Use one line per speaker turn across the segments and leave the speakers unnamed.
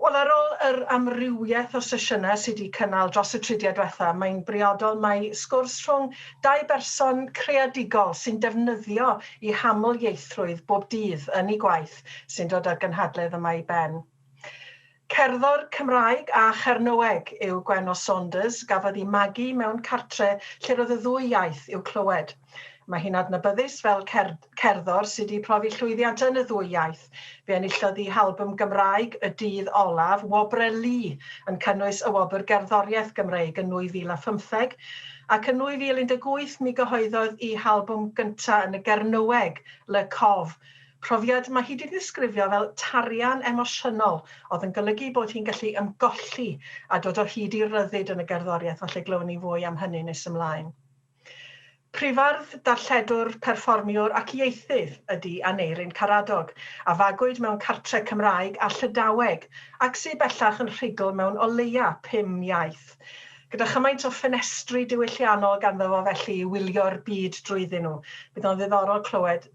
Wel, ar ôl yr amrywiaeth o sesiynau sydd wedi cynnal dros y tridiau diwethaf, mae'n briodol mai sgwrs rhwng dau berson creadigol sy'n defnyddio eu haml-ieithrwydd bob dydd yn eu gwaith sy'n dod â'r gynhadledd yma i ben. Cerddor Cymraeg a Chernoeg yw Gwenno Saunders, gafodd i magu mewn cartre lle roedd y ddwy iaith i'w clywed. Mae hi'n adnabyddus fel cerddor sydd wedi profi llwyddiant yn y ddwy iaith. Fe enillodd hi halbwm Gymraeg y dydd olaf, Wobre Lu, yn cynnwys y Wobr Gerddoriaeth Gymreig yn 2015, ac yn 2018 mi gyhoeddodd i halbwm gyntaf yn y Gernyweg, Le Cove, Profiad mae hi 'di ddisgrifio fel tarian emosiynol oedd yn golygu bod hi'n gallu ymgolli a dod o hyd i ryddid yn y gerddoriaeth, falle glywon ni fwy am hynny nes ymlaen. Prifardd, darlledwr, perfformiwr ac ieithydd ydi Aneurin Karadog, a fagwyd mewn cartre Cymraeg a Llydaweg, ac sy bellach yn rhugl mewn o leia pum iaith. Gyda chymaint o ffenestri diwylliannol ganddo fo felly i wylio'r byd drwyddyn nhw, bydd o'n ddiddorol clywed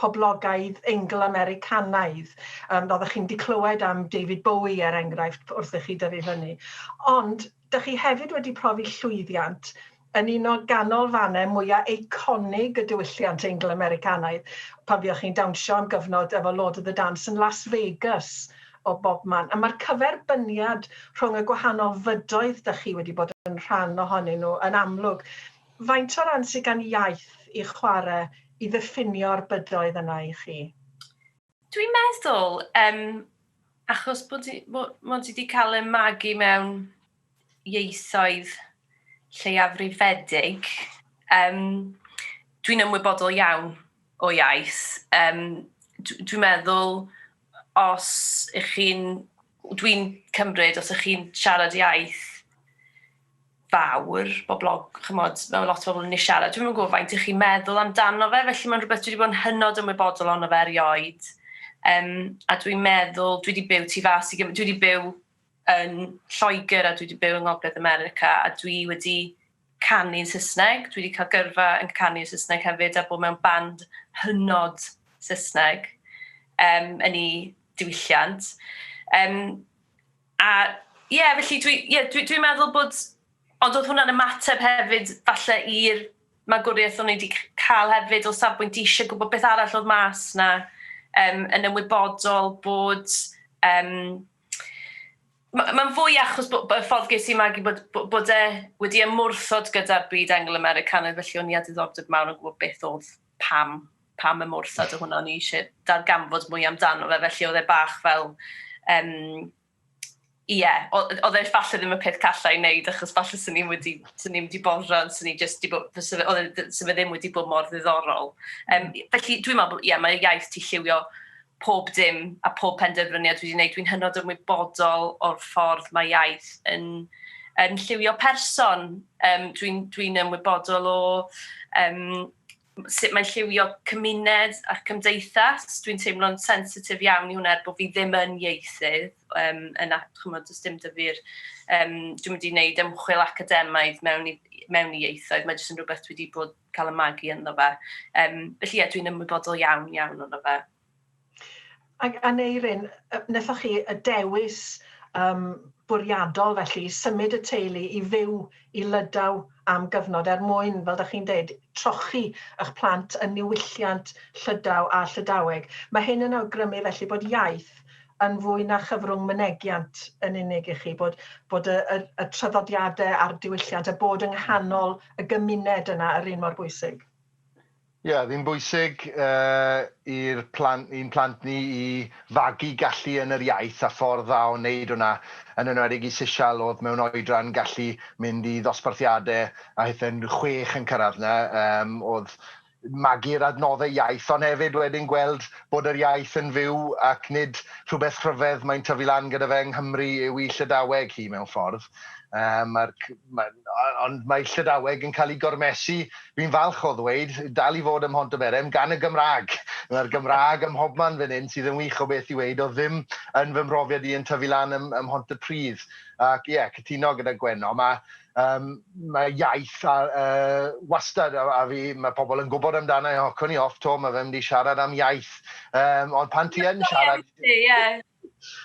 poblogaidd Eingl-Americanaidd. Yym, oeddech chi'n 'di clywed am David Bowie, er enghraifft, wrth i chi dyfu fyny. Ond, dych chi hefyd wedi profi llwyddiant yn un o ganolfannau mwya eiconig y diwylliant Eingl-Americanaidd, pan fuoch chi'n dawnsio am gyfnod efo Lord of the Dance yn Las Vegas, o bobman. A mae'r cyferbyniad rhwng y gwahanol fydoedd dych chi wedi bod yn rhan ohonyn nhw yn amlwg. Faint o ran sydd gan iaith i chwarae i ddiffinio'r bydoedd yna i chi? Dwi'n
meddwl, um, achos bod ti, mod, mod ti wedi cael y magu mewn ieithoedd lleiafrifedig, um, dwi'n ymwybodol iawn o iaith. Um, dwi'n meddwl, os ych chi'n, dwi'n cymryd, os ych chi'n siarad iaith fawr boblog- ch'mod ma' lot o bobl myn' i siarad dwi'm yn gwbo faint y'ch chi'n meddwl amdano fe felly ma'n rwbeth dwi 'di bod yn hynod ymwybodol ono fe erioed yym a dwi'n meddwl dwi 'di byw tu fas i gym- dwi 'di byw yn Lloegr a dwi 'di byw yng Ngogledd America a dwi wedi canu'n Sysneg dwi 'di ca'l gyrfa yn canu yn Sysneg hefyd a bod mewn band hynod Sysneg yym yn 'u diwylliant yym A ie, felly dwi, ie, dwi, dwi'n meddwl bod, ond oedd hwnna'n ymateb hefyd falle i'r magwriaeth o'n i wedi cael hefyd o safbwynt eisiau gwybod beth arall oedd mas na um, yn ymwybodol bod um, mae'n fwy achos bod, bod y ffordd ges i magu bod, bod, bod e wedi ymwrthod gyda'r byd Angl-Americanaidd, felly o'n i a diddordeb mawr yn gwybod beth oedd pam, pam y morsad o hwnna, o'n i eisiau darganfod mwy amdano fe, felly oedd e bach fel, um, ie, yeah, oedd e falle ddim y peth callai i wneud, achos falle sy'n ni'n wedi, sy'n ni'n wedi borfran, sy'n ni just wedi bod, sy'n e, e ddim wedi bod mor ddiddorol. Um, felly, dwi'n meddwl, ie, yeah, mae iaith ti lliwio pob dim a pob penderfyniad dwi 'di neud, dwi'n hynod ymwybodol o'r ffordd mae iaith yn yn lliwio person, um, dwi'n dwi ymwybodol o um, sut mae'n lliwio cymuned a'r cymdeithas. Dwi'n teimlo'n sensitif iawn i hwnna er bod fi ddim yn ieithydd. Um, yna, chymod, does dim dyfu'r... Um, dwi'n mynd i wneud ymchwil academaidd mewn i, mewn i ieithoedd. Mae jyst yn rhywbeth dwi wedi bod cael y magu ynddo fe. Um, felly ie, dwi'n ymwybodol iawn, iawn ynddo fe.
Ac Aneirin, nethoch chi y dewis um, bwriadol felly symud y teulu i fyw i Lydaw am gyfnod er mwyn, fel da chi'n dweud, trochi eich plant yn niwylliant Llydaw a Llydaweg. Mae hyn yn awgrymu felly bod iaith yn fwy na chyfrwng mynegiant yn unig i chi, bod bod y y y traddodiade a'r diwylliant a bod yng nghanol y gymuned yna yr un mor bwysig. Ie, oedd
hi'n bwysig yy i'r plant, i'n plant ni i fagu gallu yn yr iaith a ffordd dda o wneud hwnna, yn enwedig i Sishal oedd mewn oedran gallu mynd i ddosbarthiadau a hithau'n chwech yn cyrraedd 'na, yym oedd magu'r adnoddau iaith, ond hefyd wedyn gweld bod yr iaith yn fyw ac nid rhywbeth rhyfedd mae'n tyfu lan gyda fe yng Nghymru yw'i Llydaweg hi mewn ffordd. Um, mae'r, mae, ond mae Llydaweg yn cael ei gormesu, fi'n falch o ddweud, dal i fod ym Mhontyberem, gan y Gymraeg. Mae'r Gymraeg ym mhobman fan hyn sydd yn wych o beth i weid, o ddim yn fy mhrofiad i yn tyfu lan ym, ym Mhontypridd. Ac ie, yeah, cytuno gyda Gwenno, mae Yym, mae iaith a, yy, wastad a- a fi, mae pobl yn gwybod amdana i, hocwn i off 'to, mae fe'n mynd i siarad am iaith. Yym, ond pan ti yn siarad...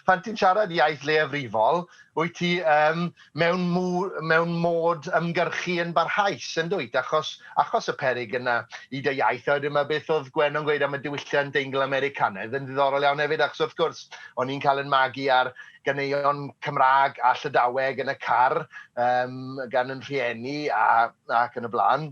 Pan ti'n siarad iaith leiafrifol, wyt ti um, mewn, mw, mewn mod ymgyrchu yn barhaus, yn dwyt, achos, achos y perig yna i dy iaith. A wedyn mae beth oedd Gwen o'n gweud am y diwylliant Eingl-Americanaidd yn ddiddorol iawn hefyd, achos wrth gwrs, o'n i'n cael yn magu ar ganeuon Cymraeg a Llydaweg yn y car um, gan yn rhieni a, ac yn y blaen.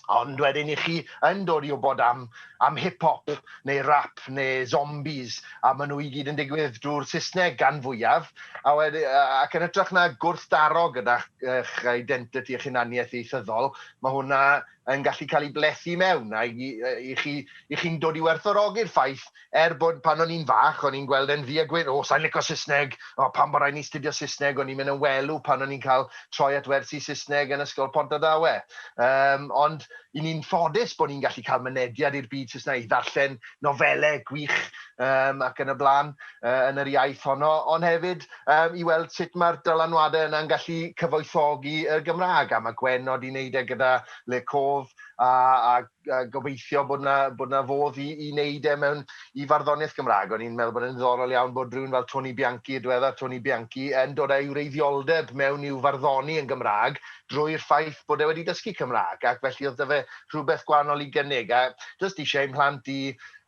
Ond wedyn i chi yn dod i wybod am, am hip-hop neu rap neu zombies a maen nhw i gyd yn digwydd drwy'r Saesneg gan fwyaf a wedi, ac yn ytrach na gwrthdaro gyda'ch eich identity, eich hunaniaeth ieithyddol, mae hwnna yn gallu cael ei blethu i mewn, a i i chi, i chi'n dod i werthfawrogi'r ffaith, er bod pan o'n i'n fach, o'n i'n gweld e'n ddu a gwyn, 'O, sa i'n lico Saesneg! O, pam bod raid i ni astudio Saesneg? O'n i'n mynd yn welw pan o'n i'n cael troi at wersi Saesneg yn Ysgol Pontardawe. Yym, ond 'y ni'n ffodus bod ni'n gallu cael mynediad i'r byd Saesneg, i ddarllen nofelau gwych, yym, ac yn y blaen. yn yr iaith honno, ond hefyd um, i weld sut mae'r dylanwadau yna'n gallu cyfoethogi y Gymraeg. A mae Gwen nod i wneud e gyda Le Cof a, a, a gobeithio bod yna bod na fodd i, i wneud e mewn i farddoniaeth Gymraeg. O'n i'n meddwl bod yn ddiddorol iawn bod rhywun fel Tony Bianchi, diweddar Tony Bianchi, yn dod â'i wreiddioldeb mewn i'w farddoni yn Gymraeg drwy'r ffaith bod e wedi dysgu Cymraeg ac felly oedd da fe rhywbeth gwahanol i gynnig a jyst eisiau ein mhlant i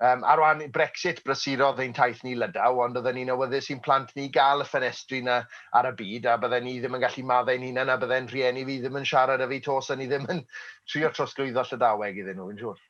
Yym, ar wan i Brexit, brysurodd ein taith ni Lydaw, ond oedden ni'n awyddus i'n plant ni gael y ffenestri 'na ar y byd, a bydden ni ddim yn gallu maddau ein hunain, a bydde'n rhieni fi ddim yn siarad 'da fi 'to 'sen ni ddim yn trio trosglwyddo Llydaweg iddyn nhw, fi'n siŵr.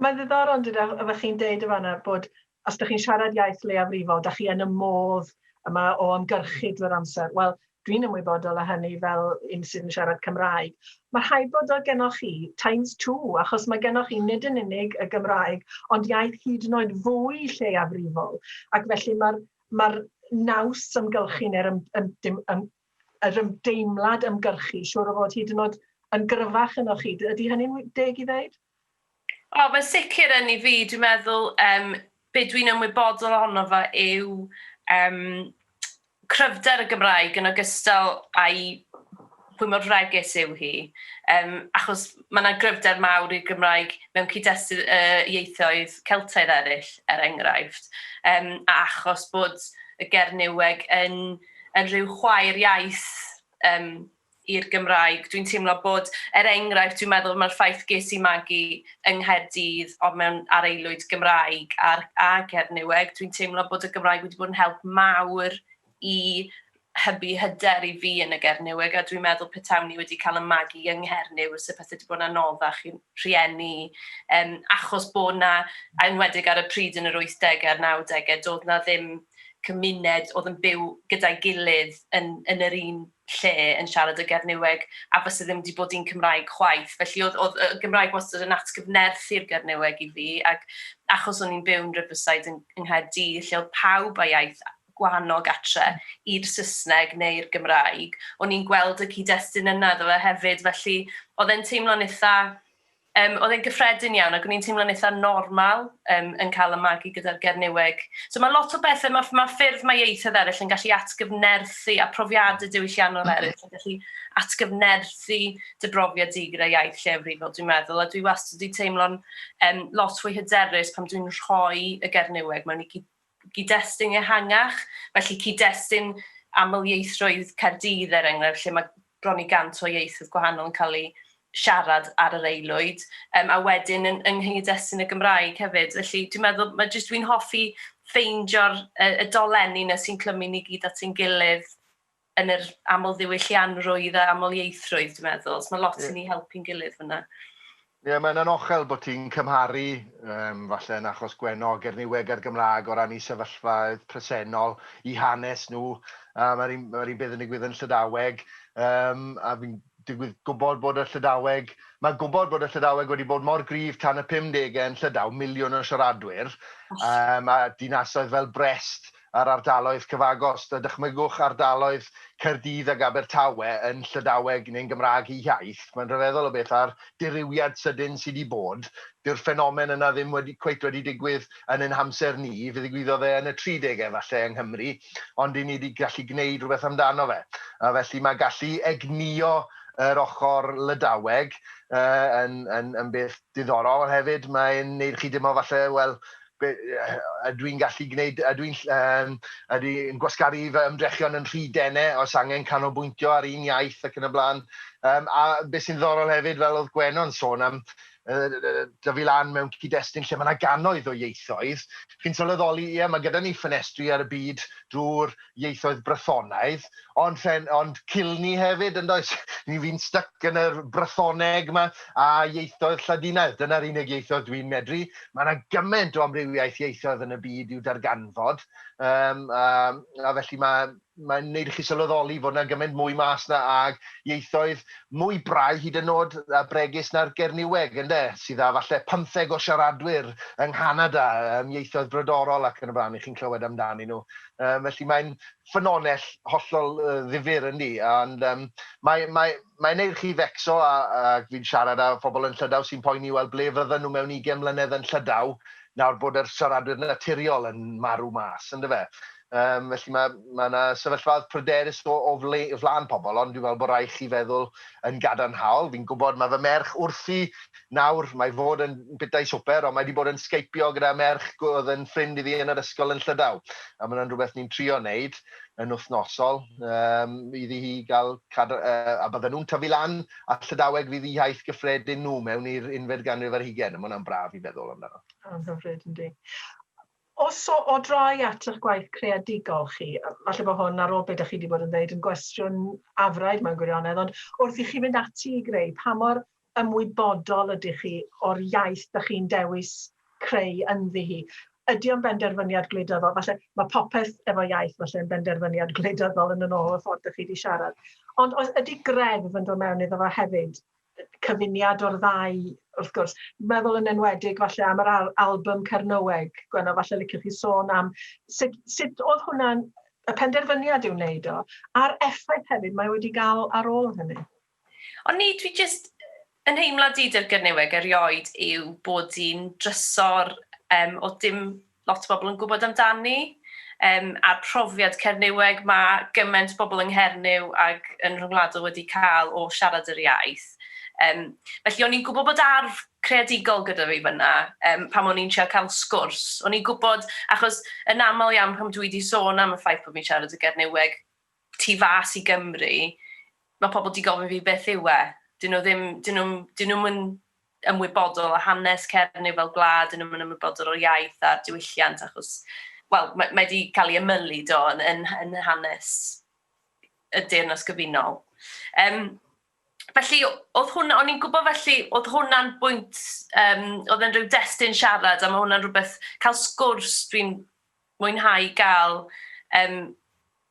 Mae'n ddiddorol
yn dydi, oeddech chi'n deud yn fan'na bod os 'dych chi'n siarad iaith leiafrifol, 'dach chi yn y modd yma o ymgyrchu drwy'r amser. Wel, Dwi'n ymwybodol o hynny fel un sydd yn siarad Cymraeg. Mae rhaid bod o gennoch chi times two, achos mae gennoch chi nid yn unig y Gymraeg, ond iaith hyd yn oed fwy lleiafrifol, ac felly mae'r ma naws ymgylchu neu'r ym, ym, ym, ym, yr ymdeimlad ymgyrchu, siŵr o fod hyd yn oed yn gryfach yno chi. Ydy hynny'n deg i ddeud? O, mae'n
sicr yn i fi. Dwi'n meddwl, um, be dwi'n ymwybodol ohono fo yw um, cryfder y Gymraeg yn ogystal â'i pwy mor fregus yw hi. Um, achos mae yna gryfder mawr i'r Gymraeg mewn cyd-destun uh, ieithoedd Celtaidd eraill, er enghraifft. Um, a achos bod y Gernyweg yn, yn rhyw chwaer iaith um, i'r Gymraeg. Dwi'n teimlo bod, er enghraifft, dwi'n meddwl mae'r ffaith ges i magu yng Nghaerdydd ond mewn ar aelwyd Gymraeg ar, a Gernyweg, dwi'n teimlo bod y Gymraeg wedi bod yn help mawr i hybu hyder i fi yn y Gernyweg a dwi'n meddwl petawn i wedi cael y magu yng Nghernyw se pethau wedi bod yn anoddach i'n rhieni um, achos bod na, enwedig ar y pryd yn yr 80au a'r 90au, doedd na ddim cymuned oedd yn byw gyda'i gilydd yn, yn yr un lle yn siarad y Gernyweg a fyse ddim wedi bod un Cymraeg chwaith. Felly oedd, oedd y Gymraeg wastad yn atgyfnerth i'r Gernyweg i fi, ac achos o'n i'n byw yn Riverside yng Nghaerdydd, lle oedd pawb a iaith gwahanol gatre i'r Saesneg neu'r Gymraeg, o'n i'n gweld y cyd-destun yna iddo fe hefyd, felly oedd e'n teimlo'n eitha' Yym, oedd e'n gyffredin iawn, ac o'n i'n teimlo'n eitha normal um, yn cael y magu gyda'r Gernyweg. So mae lot o bethau, mae, mae ffyrdd mae ieithoedd eraill yn gallu atgyfnerthu, a profiadau diwylliannol mm -hmm. eraill yn gallu atgyfnerthu dy brofiad di gyda iaith lleafrifol, dwi'n meddwl. A dwi wastad wedi teimlo'n um, lot fwy hyderus pan dwi'n rhoi y Gernyweg mewn i gyd-destun ehangach, felly cyd-destun amlieithrwydd Caerdydd er enghraifft lle mae bron i 100 o ieithoedd gwahanol yn cael eu siarad ar yr aelwyd, um, a wedyn yn, yng nghyd-destun y Gymraeg hefyd. Felly dwi'n meddwl, mae jyst dwi'n hoffi ffeindio'r y, y dolenni yna sy'n clymu ni gyd at ein gilydd yn yr amlddiwyllianrwydd a amlieithrwydd dwi'n meddwl. So mae lot yn ei helpu'n gilydd fanna. Ie, mae'n
anochel bod ti'n cymharu, um, falle yn achos Gwenno, Gerniweg a'r Gymraeg o ran i sefyllfaoedd presennol, i hanes nhw. A mae'r un, mae un beth yn digwydd yn Llydaweg, um, a fi'n digwydd gwybod bod y Llydaweg, mae'n gwybod bod y Llydaweg wedi bod mor grif tan y 50au yn Llydaw, miliwn o siaradwyr, um, a dinasoedd fel Brest, a'r ardaloedd cyfagos. Dychmygwch ardaloedd Caerdydd ac Abertawe yn Llydaweg neu'n Gymraeg eu hiaith. Mae'n rhyfeddol o beth a'r dirywiad sydyn sy' 'di bod. Dyw'r ffenomen yna ddim wedi cweit wedi digwydd yn ein hamser ni. Fe ddigwyddodd e yn y tri degau falle yng Nghymru, ond 'yn ni 'di gallu gwneud rhywbeth amdano fe. A felly mae gallu egnïo yr ochr Lydaweg yy yn yn yn beth diddorol, ond hefyd mae'n wneud chi deimlo falle, wel, Be, ydw i'n gallu gwneud, ydw i'n, yym, ydw i'n gwasgaru fy ymdrechion yn rhy dene, oes angen canolbwyntio ar un iaith ac yn y blaen. Yym, a be sy'n ddiddorol hefyd, fel oedd Gwenno'n sôn am, yy, dyfu lan mewn cyd-destun lle mae 'na gannoedd o ieithoedd, chi'n sylweddoli, ie, mae gyda ni ffenestri ar y byd drwy'r ieithoedd Brythonaidd, ond rhen- ond culni hefyd yndoes? Ni fi'n styc yn yr Brythoneg 'ma a ieithoedd Lladinaidd, dyna'r unig ieithoedd dwi'n medru. Ma' 'na gyment o amrywiaeth ieithoedd yn y byd i'w darganfod, yym a a felly ma' mae'n neud i chi sylweddoli fod 'na gyment mwy mas 'na ag ieithoedd mwy brau hyd yn o'd a bregus na'r Gernyweg ynde, sydd â falle pymtheg o siaradwyr yng Nghanada, yym ieithoedd brodorol ac yn y blaen, 'ych chi'n clywed amdanyn nhw. Um, felly mae'n ffynonell hollol uh, ddifur yn ni, ond um, mae'n mae, mae neud chi fecso, a, a fi'n siarad â phobl yn Llydaw sy'n poeni, wel, ble fydden nhw mewn 20 mlynedd yn Llydaw, nawr bod yr siaradwyr naturiol yn marw mas, ynddo fe. Um, felly mae yna ma sefyllfad pryderus o, o fle, flan pobl, ond dwi'n meddwl bod rhaid chi feddwl yn gadarnhaol. Fi'n gwybod mae fy merch wrthi nawr, mae fod yn bwytai swper, ond mae 'di bod yn sgeipiog gyda merch g- oedd yn ffrind i fi yn yr ysgol yn Llydaw. A mae hwnna'n rhywbeth ni'n trio wneud yn wythnosol um, iddi hi gael cadw... Uh, a bydden nhw'n tyfu lan a Llydaweg fydd i haith gyffredin nhw mewn i'r unfed ganrif ar hugen. Mae hwnna'n braf i feddwl amdano. Yn hyfryd, yndi.
Os o, o drai at eich gwaith creadigol chi, falle bod hwn ar ôl beth ydych chi wedi bod yn dweud yn gwestiwn afraid mae'n gwirionedd, ond wrth i chi fynd ati i greu, pa mor ymwybodol ydych chi o'r iaith dych chi'n dewis creu ynddi hi. Ydy o'n benderfyniad gwleidyddol? Falle mae popeth efo iaith falle yn benderfyniad gwleidyddol yn yn ôl y ffordd dych chi wedi siarad. Ond oes ydy greddf yn dod mewn iddo fo hefyd? Cyfuniad o'r ddau, wrth gwrs. Meddwl yn enwedig falle am yr al album Cernyweg, Gwenno, falle licioch chi sôn am sut, sut oedd hwnna'n y penderfyniad i'w wneud o, a'r effaith hefyd mae wedi gael ar ôl hynny. Ond ni,
dwi jyst, yn nheimlad i dy'r Gernyweg erioed yw bod hi'n drysor yym o dim lot o bobl yn gwybod amdani yym a'r profiad Cernyweg ma' gymaint bobl yng Nghernyw ag yn rhyngwladol wedi cael o siarad yr iaith. Yym felly o'n i'n gwybod bod arf creadigol gyda fi fyna yym pam o'n i'n trio cael sgwrs. O'n i'n gwybod achos yn aml iawn pam dwi wedi sôn am y ffaith bod fi'n siarad y Gernyweg tu fas i Gymru, mae pobl wedi gofyn fi beth yw e. Dyn nhw ddim, dyn nhw'm, dyn nhw'm yn ymwybodol o hanes Cernyw fel gwlad, dyn nhw'm yn ymwybodol o'r iaith a'r diwylliant achos, wel, mae, mae wedi cael ei ymylu do yn, yn, yn hanes y Deyrnas Gyfunol. Um, felly, oedd hwnna, o'n i'n gwybod felly, oedd hwnna'n bwynt, um, oedd yn rhyw destun siarad, a mae hwnna'n rhywbeth, cael sgwrs, dwi'n mwynhau ga'l yym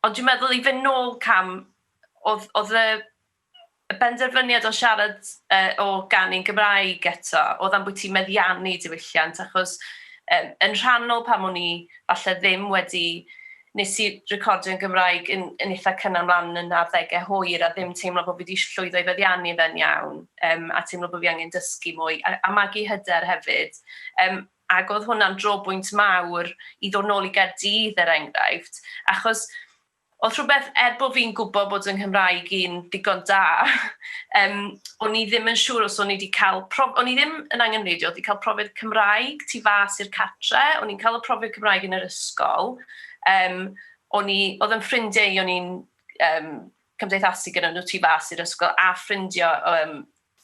ond dwi'n meddwl i fyn nôl cam odd odd y y benderfyniad o siarad yy o ganu'n Gymraeg eto odd ambwyty meddiannu diwylliant achos yym yn rhannol pam o'n i falle ddim wedi nes i recordio'n Gymraeg yn yn itha cynnar mlan yn arddege hwyr a ddim teimlo bo fi di llwyddo i feddiannu fe'n iawn yym a teimlo bo fi angen dysgu mwy a a magu hyder hefyd yym Ac oedd hwnna'n drobwynt mawr i ddod nôl i Gaerdydd er enghraifft, achos oedd rhywbeth, er bod fi'n gwybod bod yng Nghymraeg i'n ddigon da, um, o'n i ddim yn siŵr os o'n i wedi cael prof... O'n i ddim yn angenreidio, oedd wedi cael profiad Cymraeg tu fas i'r catre, o'n i'n cael y profiad Cymraeg yn yr ysgol, um, o'n i, oedd yn ffrindiau o'n i'n um, cymdeithasu gyda nhw tu fas i'r ysgol a ffrindio um,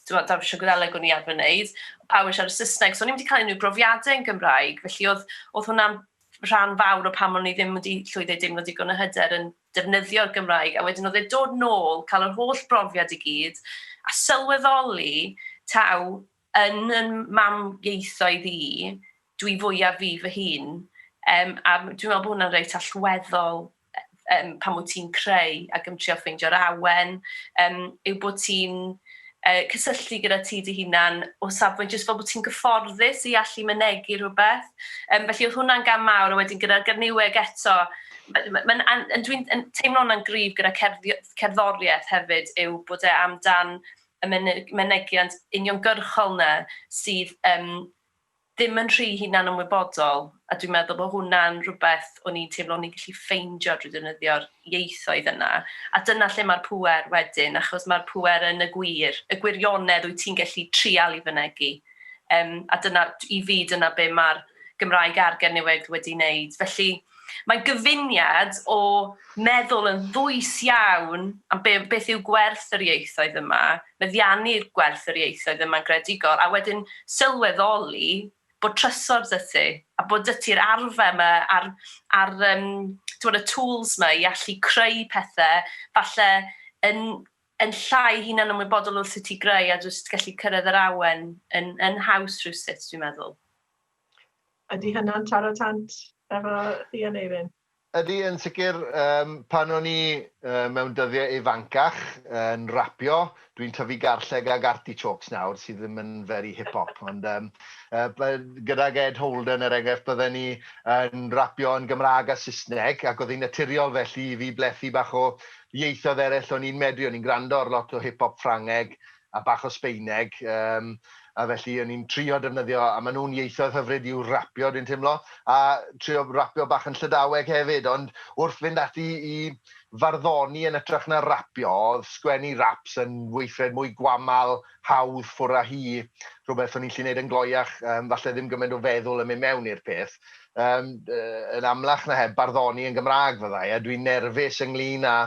Timod, dawnsio Gwyddeleg o'n i arfer wneud, pawb yn siarad Saesneg, so o'n i'm wedi cael unrhyw brofiadau yn Gymraeg, felly oedd, oedd hwnna'n rhan fawr o pam o'n i ddim wedi llwyddo i deimlo digon o hyder yn defnyddio'r Gymraeg, a wedyn oedd e dod nôl, cael yr holl brofiad i gyd, a sylweddoli taw yn yn mam ieithoedd i, dwi fwyaf fi fy hun, um, a dwi'n meddwl bod hwnna'n reit allweddol yym pan wyt ti'n creu ac yn trio ffeindio'r awen, yym yw bod ti'n uh, cysylltu gyda ti dy hunan o safbwynt jyst fel bod ti'n gyfforddus i allu mynegu rhywbeth. Um, felly oedd hwnna'n gam mawr, a wedyn gyda'r garniweg eto, dwi'n teimlo hwnna'n gryf gyda cerddoriaeth hefyd yw bod e amdan y mynegiant uniongyrchol na sydd um, ddim yn rhy hunanymwybodol, a dwi'n meddwl bod hwnna'n rhywbeth o'n i'n teimlo o'n i'n gallu ffeindio drwy ddefnyddio'r ieithoedd yna, a dyna lle mae'r pŵer wedyn, achos mae'r pŵer yn y gwir, y gwirionedd wyt ti'n gallu trial i fynegi, yym a dyna, i fi, dyna be mae'r Gymraeg a'r Gernyweg wedi wneud. Felly, Mae gyfuniad o meddwl yn ddwys iawn am be, beth yw gwerth yr ieithoedd yma, meddiannu gwerth yr ieithoedd yma'n greadigol, a wedyn sylweddoli bod trysor 'da ti, a bod 'da ti'r arfer 'ma a'r, a'r um, tywed, y tools 'ma i allu creu pethau, falle yn, yn llai hunan ymwybodol wrth i ti greu a jyst gallu cyrraedd yr awen yn, yn haws rhywsut, dwi'n meddwl.
Ydy hynna'n taro tant efo chi Aneurin? Ydy, yn sicr.
Yym, pan o'n i yy mewn dyddiau ifancach yn rapio, dwi'n tyfu garlleg ag artichokes nawr, sydd ddim yn very hip hop, ond yym yy by- gydag Ed Holden, er enghraifft, bydden ni yn rapio yn Gymraeg a Saesneg, ac oedd hi'n naturiol felly i fi blethu bach o ieithoedd eraill o'n i'n medru, o'n i'n gwrando ar lot o hip hop Ffrangeg, a bach o Sbeineg yym a felly o'n i'n trio defnyddio a maen nhw'n ieithoedd hyfryd i'w rapio dwi'n teimlo a trio rapio bach yn Llydaweg hefyd ond wrth fynd ati i farddoni yn ytrach na rapio oedd sgwennu raps yn weithred mwy gwamal, hawdd ffwr a hi, rhywbeth o'n i'n lli neud yn gloiach yym falle ddim gymaint o feddwl yn mynd mewn i'r peth yym yn amlach na heb barddoni yn Gymraeg fyddai a dwi'n nerfus ynglyn a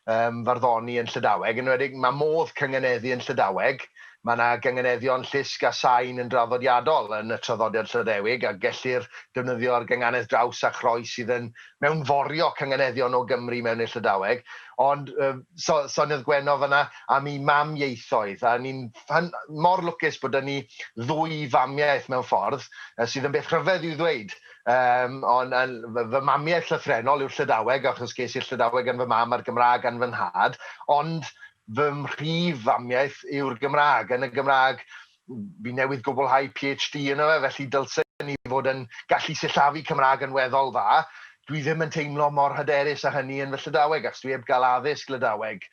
um, farddoni yn Llydaweg, yn wedig mae modd cynganeddu yn Llydaweg, mae yna gynganeddion llusg a sain yn draddodiadol yn y traddodiad Llyddewig a gellir defnyddio ar gynganedd draws a chroes sydd yn mewnforio cynganeddion o Gymru mewn i'r Llydaweg. Ond um, so, soniodd Gwenno fanna am i mam ieithoedd, a ni'n mor lwcus bod yna ni ddwy famiaeth mewn ffordd, sydd yn beth rhyfedd i'w ddweud, Yym, on, yn, fy, fy mamiaith llythrennol yw'r Llydaweg, achos ges i'r Llydaweg gan fy mam a'r Gymraeg gan fy nhad, ond fy mhrif famiaith yw'r Gymraeg. Yn y Gymraeg, fi newydd gwblhau PhD yno fe, felly dylsen i fod yn gallu sillafu Cymraeg yn weddol dda. Dwi ddim yn teimlo mor hyderus â hynny yn fy Llydaweg, achos dwi heb gael addysg Lydaweg.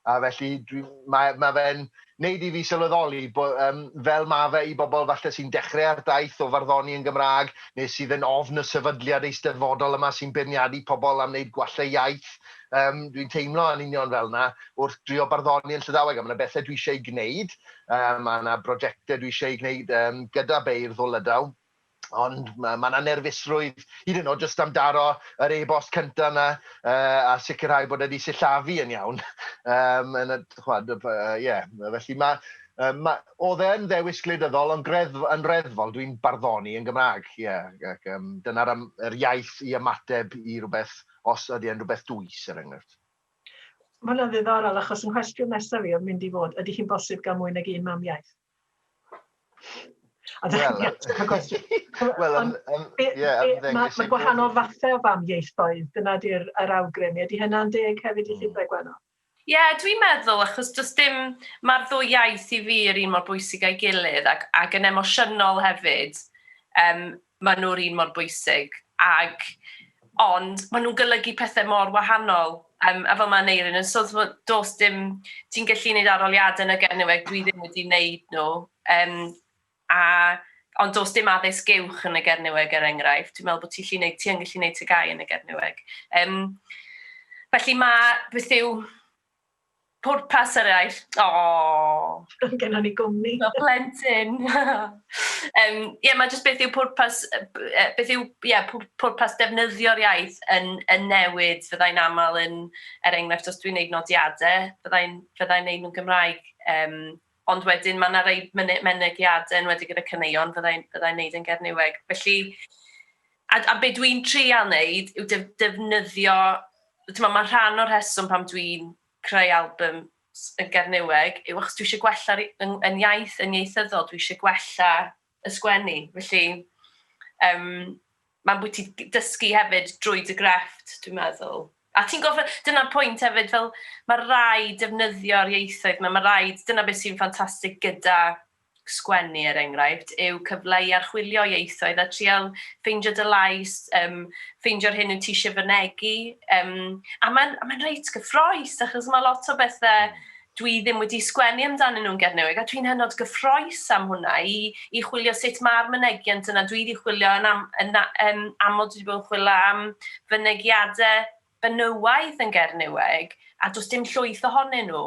A felly dwi... mae mae fe'n wneud i fi sylweddoli bo- yym fel ma' fe i bobl falle sy'n dechrau ar daith o farddoni yn Gymraeg neu sydd yn ofn y sefydliad eisteddfodol yma sy'n beirniadu pobl am wneud gwallau iaith, yym dwi'n teimlo yn union fel 'na wrth drio barddoni yn Llydaweg a ma' 'na bethe dwi eisiau ei gwneud, yy ma' 'na brojecte dwi eisiau eu gwneud yym gyda beirdd o Lydaw. Ond ma' ma' 'na nerfusrwydd hyd yn o'd jyst am daro yr e-bost cynta 'na yy a sicirhau bod e 'di sillafu yn iawn yym yn y ch'mod y by- yy ie felly ma' yy ma' o'dd e yn ddewis gwleidyddol ond greddf- yn reddfol dwi'n barddoni yn Gymra'g ie ac yym dyna'r am- yr iaith i ymateb i rwbeth os ydi e'n rwbeth dwys er enghraifft. Ma'
hwnna'n ddiddorol achos 'y nghwestiwn nesaf i o'dd mynd i fod ydi hi'n bosib ga'l mwy nag un mamiaith? Wel, wel, ie, ymddengys... Mae gwahanol fathau o famiaethoedd, dyna di'r yr awgrym. Ydy hynna'n deg hefyd i Llindai Gwenno? Ie, dwi'n
meddwl, achos does dim... Mae'r ddwy iaith i fi yr un mor bwysig â'i gilydd ac ac yn emosiynol hefyd. Yym Maen nhw'r un mor bwysig ac... ond maen nhw'n golygu pethau mor wahanol. Yym, a fel mae Aneurin yn sôn, timod, does dim... ti'n gallu gwneud arholiadau yn y Gernyweg, dwi ddim wedi wneud nhw, yym, a... ond does dim addysg uwch yn y Gernyweg er enghraifft, dwi'n meddwl bod ti'n gallu gwneud... ti yn gallu gwneud TGAU yn y Gernyweg. Yym, felly mae... beth yw... Pwrpas eraill. Aww!
Roedd gennon ni gwmni. Fel plentyn!
Yym, ie, mae jyst beth yw pwrpas, beth yw, ie, pwrpas defnyddio'r iaith yn yn newid, fyddai'n aml yn, er enghraifft, os dwi'n wneud nodiadau, fyddai'n fyddai'n wneud nhw'n Gymraeg, yym. ond wedyn mae yna rhai myne- mynegiadau enwedig gyda caneuon fyddai'n fyddai wneud yn Gerniweg. Felly, a, a be dwi'n treial wneud yw def, defnyddio, ti'n mae rhan o'r rheswm pam dwi'n creu album s- yn Gerniweg yw achos dwi eisiau gwella yn, yn iaith, yn ieithyddol, dwi eisiau gwella y sgwennu. Felly, um, mae'n bwyd ti dysgu hefyd drwy dy grefft, dwi'n meddwl. A ti'n gofio, dyna'r pwynt hefyd, fel mae rai defnyddio'r ieithoedd yma, mae rai, dyna beth sy'n ffantastig gyda sgwennu er enghraifft, yw cyfle i archwilio ieithoedd a trial ffeindio dy lais, um, ffeindio'r hyn yw ti eisiau fynegu. Um, a mae'n ma reit gyffroes, achos mae lot o bethau, Dwi ddim wedi sgwennu amdanyn nhw'n Gernywieg a dwi'n hynod gyffroes am hwnna i i chwilio sut ma'r mynegiant yna dwi di chwilio yn am yn na yn aml dwi di bod yn chwilio am fynegiade benywaidd yn Gernywieg a do's dim llwyth ohonyn nhw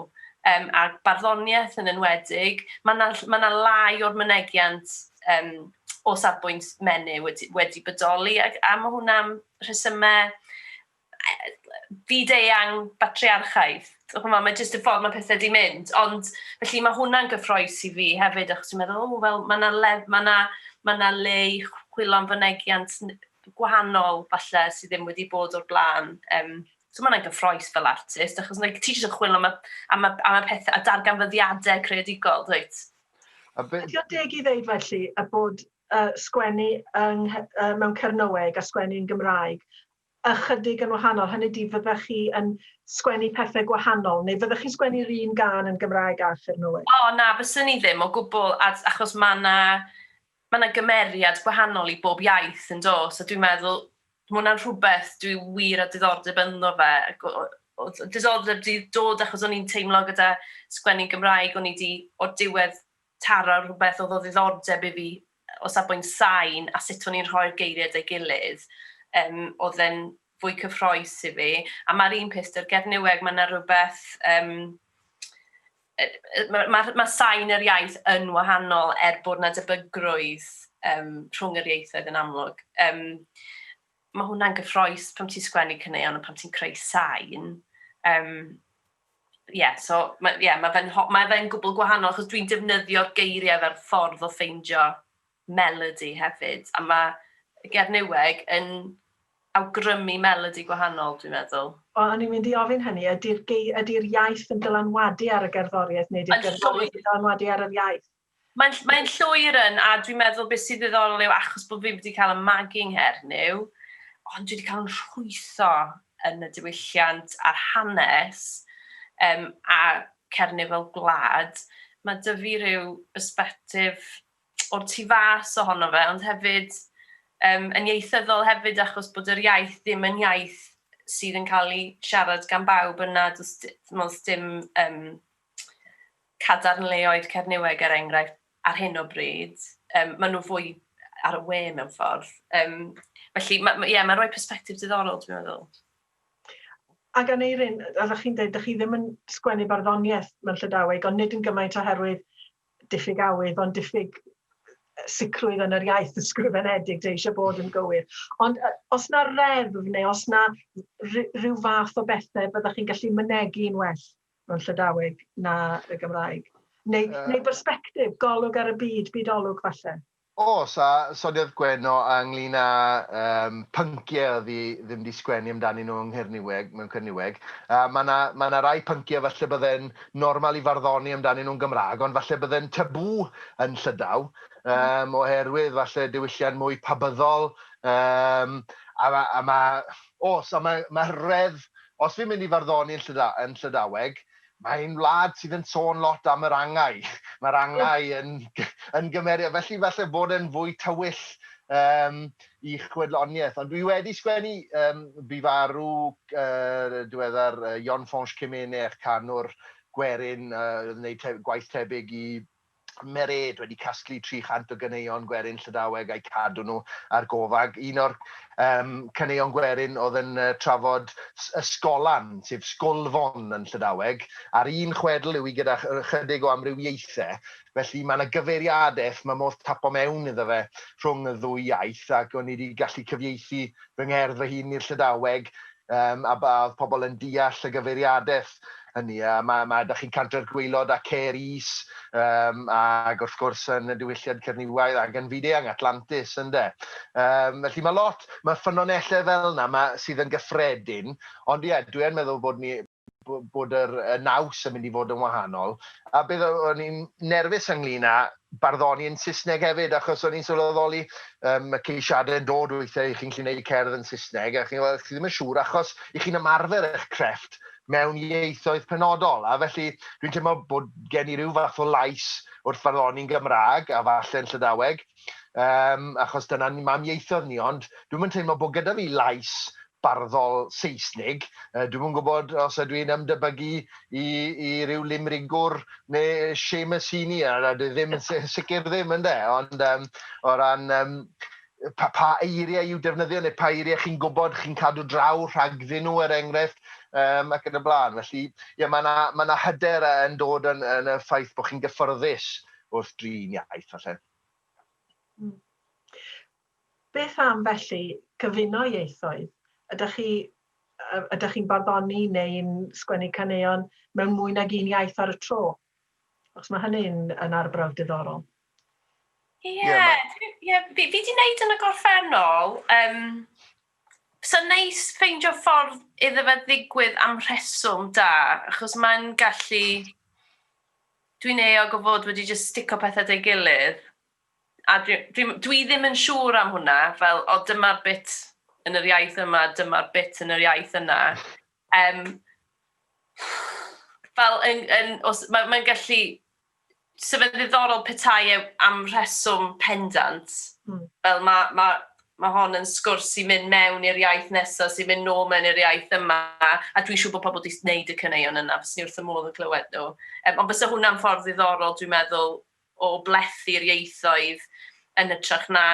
yym a barddoniaeth yn enwedig ma' na ll- ma' na lai o'r mynegiant yym o safbwynt menyw wedi wedi bodoli ag a ma' hwnna am rhesyme fyd-eang batriarchaidd. Ch'mod, mae jyst y ffordd mae pethau 'di mynd. Ond, felly, mae hwnna'n gyffroes i fi hefyd, achos dwi'n meddwl, o, wel, mae 'na le, mae 'na, mae 'na le i chwilio am fynegiant gwahanol, falle, sydd ddim wedi bod o'r blaen. Yym, so mae hwnna'n gyffroes fel artist, achos like, ti jyst yn chwilio am y, am y, am y pethau, a darganfyddiadau creadigol, dwyt? A be... Ydy o'n
deg i ddeud felly y bod uh, sgwennu yng, uh, mewn Cernyweg a sgwennu yn Gymraeg ychydig yn wahanol, hynny ydi fyddech chi yn sgwennu pethau gwahanol neu fyddech chi'n sgwennu'r un gân yn Gymraeg a Arthur Noel? O na, fyswn i ddim
o gwbl a- achos ma' 'na ma' 'na gymeriad gwahanol i bob iaith yn does a dwi'n meddwl ma' hwnna'n rhywbeth dwi wir â diddordeb ynddo fe ac o- o- oedd diddordeb 'di dod achos o'n i'n teimlo gyda sgwennu'n Gymraeg o'n i 'di o'r diwedd taro rhywbeth oedd o ddiddordeb i fi o safbwynt sain a sut o'n i'n rhoi'r geiriau at ei gilydd, yym, oedd e'n fwy cyffroes i fi. A mae'r un peth 'da'r Gernyweg, mae 'na rywbeth... Um, mae ma, ma sain yr iaith yn wahanol er bod yna debygrwydd um, rhwng yr ieithoedd yn amlwg. Um, mae hwnna'n gyffroes pan ti'n sgwennu caneuon a pan ti'n creu sain. Um, Ie, so, mae, ie, mae fe'n, mae fe'n gwbl gwahanol, achos dwi'n defnyddio'r geiriau fel ffordd o ffeindio melody hefyd, a mae Gernyweg yn awgrymu melody gwahanol, dwi'n meddwl. O, o'n i'n mynd i ofyn
hynny, ydy'r gei- ydy'r iaith yn dylanwadu ar y gerddoriaeth, neu ydy'r gerddoriaeth yn dylanwadu ar yr iaith? Mae'n ll- mae'n
llwyr yn, a dwi'n meddwl beth sydd ddiddorol yw achos bod fi wedi cael y magu ngherdyn, ond dwi wedi cael yn rhwytho yn y diwylliant a'r hanes, um, a Cernyw fel gwlad, mae dy fi rhyw bersbectif o'r tu fas ohono fe, ond hefyd um, yn ieithyddol hefyd achos bod yr iaith ddim yn iaith sydd yn cael ei siarad gan bawb yna, does dim um, cadarnleoedd Cerniweg er enghraifft ar hyn o bryd, um, maen nhw fwy ar y we mewn ffordd. Um, felly, ma, ma, yeah, mae'n rhoi perspektif diddorol, dwi'n meddwl.
Ac gan Eirin, oeddech chi'n dweud, ydych chi ddim yn sgwennu barddoniaeth mewn Llydaweg, ond nid yn gymaint oherwydd diffyg awydd, ond diffyg sicrwydd yn yr iaith ysgrifenedig dwi eisiau bod yn gywir. Ond os na reddf neu os na rhyw fath o bethau byddwch chi'n gallu mynegu yn well mewn Llydaweg na y Gymraeg. Neu, neu bersbectif, golwg ar y byd, byd-olwg falle. Oes, a
sodiodd Gwenno ynglyn â um, pynciau oedd hi ddim wedi sgwennu amdani nhw yng Nghyrniweg, mewn Cyrniweg. A mae yna ma na rai pynciau falle bydde'n normal i farddoni amdani nhw'n Gymraeg, ond falle bydde'n tabw yn Llydaw, um, oherwydd falle diwylliant mwy pabyddol. Um, a mae, a ma, os, a mae, mae rhedd Os fi'n mynd i farddoni yn Llyda- yn Llydaweg, mae ein wlad sydd yn sôn lot am yr angau. Mae'r angau yn yn gymeriad, felly falle bod e'n fwy tywyll yym i chwedloniaeth. Ond dwi wedi sgwennu yym bu farw yy yn diweddar yy Jon Fañch Cemenech, canwr gwerin yy oedd yn neud te- gwaith tebyg i Mered wedi casglu 300 o ganeuon gwerin Llydaweg a'u cadw nhw ar gofag. Un o'r um, caneuon gwerin oedd yn uh, trafod ysgolan, sef sgolfon yn Llydaweg, a'r un chwedl yw i gyda chydig o amrywiaethau, felly mae yna gyfeiriadaeth, mae modd tapo mewn iddo fe rhwng y ddwy iaith, ac o'n i wedi gallu cyfieithu fy ngerdd fy hun i'r Llydaweg yym a ba oedd pobl yn deall y gyfeiriadaeth hynny a ma' ma' da chi Cantor Gwaelod a Caer Is yym ag wrth gwrs yn y diwylliad Cerniwaidd ag yn fyd-eang Atlantis ynde yym felly ma' lot ma' ffynonellau fel 'na ma' sydd yn gyffredin ond ie dwi yn meddwl bod ni bod yr y naws yn mynd i fod yn wahanol a beth o- o'n i'n nerfus ynglyn â barddoni yn Saesneg hefyd achos o'n i'n sylweddoli um, y ceisiadau yn dod weithiau i chi'n gallu gwneud cerdd yn Saesneg a chi'n gweld chi ddim yn siŵr achos i chi'n ymarfer eich crefft mewn ieithoedd penodol a felly dwi'n teimlo bod gen i rhyw fath o lais wrth farddoni'n Gymraeg a falle'n Llydaweg um, achos dyna ni mam ieithoedd ni, ond dwi'n yn teimlo bod gyda fi lais barddol Seisnig. Uh, dwi'n yn gwybod os ydw i'n ymdebygu i, i ryw limrigwr neu Seamus Heaney, a dwi ddim yn sicr ddim yn de, ond um, o ran um, pa, pa eiriau i'w defnyddio neu pa eiriau chi'n gwybod chi'n cadw draw rhagddyn nhw er enghraifft um, ac yn y blaen. Felly, ie, mae yna ma hyder yn dod yn, yn y ffaith bod chi'n gyffyrddus wrth drin iaith falle. Mm.
Beth am felly gyfuno ieithoedd? Ydych chi ydych chi'n barddoni neu'n sgwennu caneuon mewn mwy nag un iaith ar y tro? Os mae hynny'n yn arbrawf diddorol.
Ie, yeah, yeah, fi wedi gwneud yn y gorffennol, um, so neis ffeindio ffordd iddo fe ddigwydd am rheswm da, achos mae'n gallu Dwi'n euog o fod wedi jyst stico pethe 'da'i gilydd, a dwi dwi dwi ddim yn siŵr am hwnna, fel o dyma'r bit yn yr iaith yma, dyma'r bit yn yr iaith yna. Yym, fel yn, yn, os, mae, mae'n gallu... So fe'n ddiddorol petai e am rheswm pendant, mm. fel mae, mae Mae hon yn sgwrs sy'n mynd mewn i'r iaith nesaf, sy'n mynd nôl mewn i'r iaith yma, a dwi'n siŵr bod pobl wedi gwneud y caneuon yna, fyswn i wrth fy modd yn clywed nhw. Yym, ond fysa hwnna'n ffordd ddiddorol, dwi'n meddwl, o blethu'r ieithoedd yn hytrach na,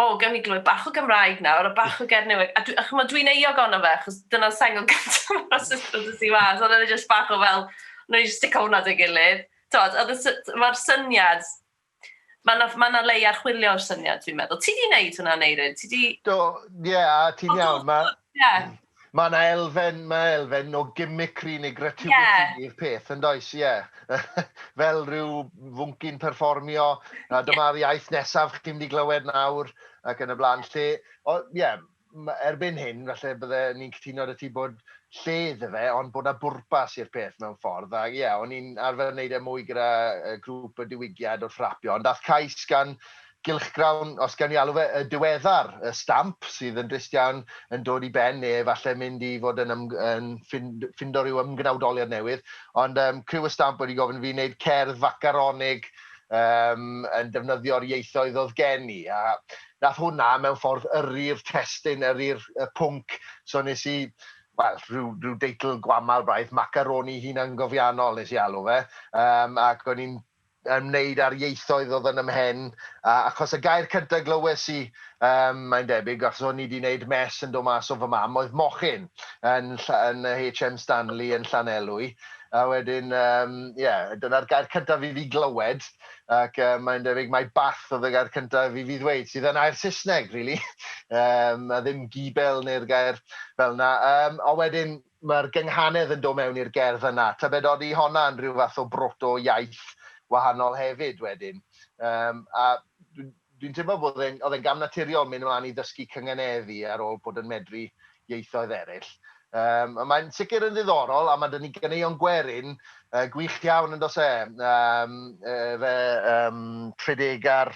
O, gawn ni glywed bach o Gymraeg nawr, a bach o Gernyweg. A, a chymod, dwi'n euog ono fe, achos dyna'r sengl gyntaf o'r asesiad dys i mas, ond oedd e jyst bach o fel, wnawn ni jyst stico hwnna at ei gilydd. Tod, oedd y sy- mae'r syniad Mae yna, mae yna le i archwilio'r syniad, dwi'n meddwl. Ti di wneud hwnna, Neirin? Ti di... Do, ie, yeah,
a ti'n iawn. Mae yeah. ma yna elfen, mae elfen o gimmickry neu gratuity yeah. i'r peth, yn does, ie. Yeah. Fel rhyw fwncyn perfformio, a dyma'r iaith nesaf chdi'n mynd i glywed nawr, ac yn y blaen. Lle, o, ie, yeah, erbyn hyn, falle bydde ni'n cytuno 'da ti bod lle iddo fe, ond bod 'na bwrpas i'r peth mewn ffordd. A ie, o'n i'n arfer wneud e mwy gyda grŵp y diwygiad wrth rapio, ond daeth cais gan gylchgrawn, os gawn ni alw fe, y diweddar, y stamp, sydd yn drist iawn, yn dod i ben, neu efallai mynd i fod yn, yn ffindo rhyw ymgnawdoliad newydd. Ond um, criw y stamp wedi gofyn fi wneud cerdd facaronig um, yn defnyddio'r ieithoedd oedd gen i. A Nath hwnna mewn ffordd yrru'r testun, yrru'r pwnc, so nes i, wel, rhyw rhyw deitl gwamal braidd, Macaroni Hunangofiannol nes i alw fe, yym ac o'n i'n ymwneud â'r ieithoedd o'dd yn 'y mhen, a achos y gair cynta glywes i, yym mae'n debyg, achos o'n i 'di 'neud mess yn do' mas o fy mam, oedd mochyn yn Lly- yn y HM Stanley yn Llanelwy, a wedyn yym ie, dyna'r gair cyntaf i fi glywed. ac uh, mae'n debyg mae bath oedd y gair cyntaf i fi ddweud, sydd yn air Saesneg, really. um, a ddim gibel neu'r gair fel yna. Um, ond wedyn, mae'r gynghanedd yn dod mewn i'r gerdd yna. Tybed oeddi honna yn rhyw fath o broto iaith wahanol hefyd wedyn. Um, a Dwi'n teimlo bod e'n, oedd e'n gam naturiol mynd ymlaen i ddysgu cynganeddu ar ôl bod yn medru ieithoedd eraill. Yym, ond mae'n sicr yn ddiddorol, a mae 'da ni ganeuon gwerin yy gwych iawn yn does e? Yym, yy, fe yym, Tredegar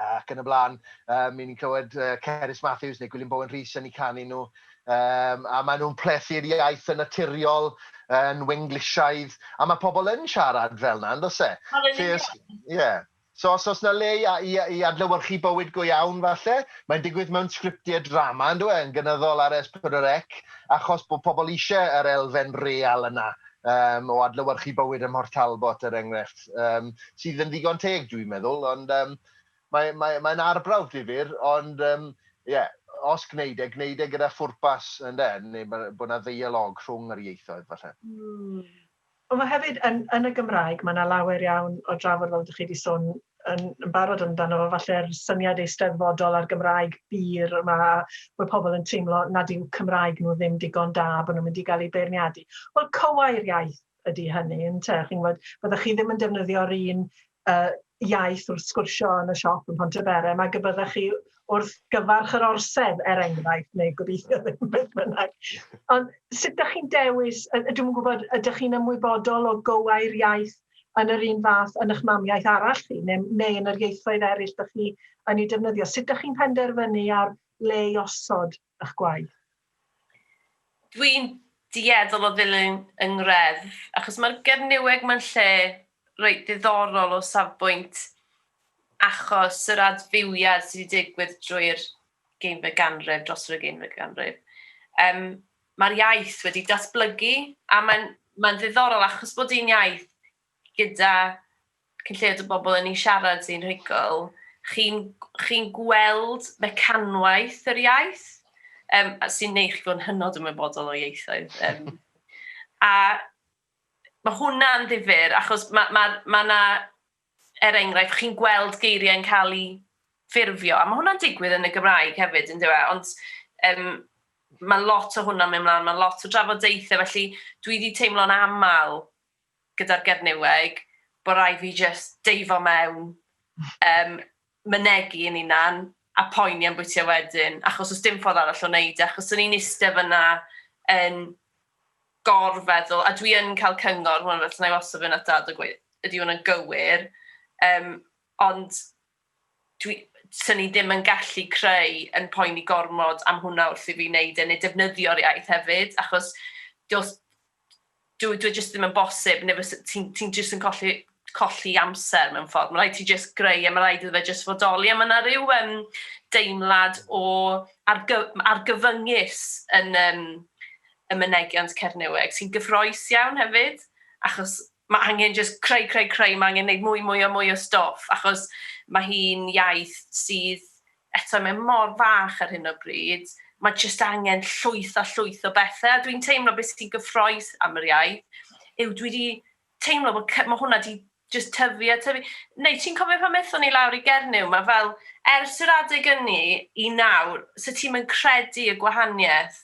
ac yn y blaen. Yym, i ni'n clywed yy, Cerys Matthews neu Gwilym Bowen Rhys yn eu canu nhw. Yym, a maen nhw'n plethu'r iaith yn naturiol, yn Wenglishaidd, a mae pobl yn siarad fel yna, yn does e? Fel yn union. Ie. So os oes na le i a- i a- i adlewyrchu bywyd go iawn falle, mae'n digwydd mewn sgriptiau drama yndyw e, yn gynyddol ar Es Pedwar Ec, achos bod pobl eisiau yr elfen real yna yym o adlewyrchu bywyd ym Mhort Talbot er enghraifft, yym sydd yn ddigon teg dwi'n meddwl, ond yym mae mae mae'n arbrawf difyr, ond yym ie, os gwneud e, gwneud e gyda phwrpas ynde, neu ma- bod 'na ddeialog rhwng yr ieithoedd falle. Mm.
Ond mae hefyd yn yn y Gymraeg, mae 'na lawer iawn o drafod fel dych chi 'di sôn yn yn barod amdano fo, falle'r syniad eisteddfodol a'r Gymraeg bur yma, bod pobl yn teimlo nad yw Cymraeg nhw ddim digon da, bod nhw'n mynd i gael eu beirniadu. Wel, cywair iaith ydy hynny, ynte? Chi'n gwybod, fyddech chi ddim yn defnyddio'r un uh, iaith wrth sgwrsio yn y siop yn Pontyberem, mae y byddech chi wrth gyfarch yr orsedd, er enghraifft, neu gobeithio ddim beth bynnag. Ond sut ydych chi'n dewis, dwi'n gwybod, ydych chi'n ymwybodol o gywau'r iaith yn yr un fath yn eich mamiaeth arall chi, neu, neu yn yr ieithoedd eraill ydych chi yn ei defnyddio? Sut ydych chi'n penderfynu ar le i osod ych gwaith?
Dwi'n dueddol o ddilyn yng ngreddf, achos mae'r Gernyweg mae'n lle reit ddiddorol o safbwynt achos yr adfywiad sydd wedi digwydd drwy'r ugeinfed ganrif, dros yr ugeinfed ganrif. Um, Mae'r iaith wedi datblygu a mae'n mae ddiddorol achos bod hi'n iaith gyda chi'n lled y bobl yn ei siarad hi'n rhugl, chi'n chi gweld mecanwaith yr iaith, um, sy'n neud chi fod yn hynod ymwybodol o ieithoedd. Um, a mae hwnna'n ddifur, achos mae yna, ma, ma er enghraifft, chi'n gweld geiriau'n cael ei ffurfio, a mae hwnna'n digwydd yn y Gymraeg hefyd, yn dweud, ond um, mae lot o hwnna'n mynd mlaen, mae lot o drafodaethau, felly dwi wedi teimlo'n aml gyda'r Gernyweg, bod rhaid fi jyst deifo mewn, yym, mynegi yn hunan, a poeni am bwyty wedyn, achos does dim ffordd arall o wneud e, achos o'n i'n iste fyna yn gorfeddwl, a dwi yn cael cyngor, hwn, felly na i wastad fynd at dad a gweud, ydy hwn yn gywir, um, ond dwi, 'sen i ddim yn gallu creu yn poeni gormod am hwnna wrth i fi wneud e, neu defnyddio'r iaith hefyd, achos does, dw, dwi jyst ddim yn bosib, neu fysa, ti'n ti jyst yn colli, colli amser mewn ffordd, mae rhaid ti jyst greu, a mae rhaid iddo fe jyst fodoli, a mae yna rhyw um, deimlad o argy, argyfyngus yn um, y mynegiant Cernywiaid, sy'n gyffroes iawn hefyd, achos Mae angen jyst creu, creu, creu, mae angen gwneud mwy, mwy a mwy o stwff, achos mae hi'n iaith sydd, eto, mae mor fach ar hyn o bryd, mae jyst angen llwyth a llwyth o bethau, a dwi'n teimlo beth sy'n gyffroes am yr iaith yw dwi wedi teimlo bod mae hwnna wedi just tyfu a tyfu. Neu ti'n cofio pan wnaethon ni lawr i Gernyw, mae fel, ers yr adeg ynni i nawr, so ti'm yn credu y gwahaniaeth.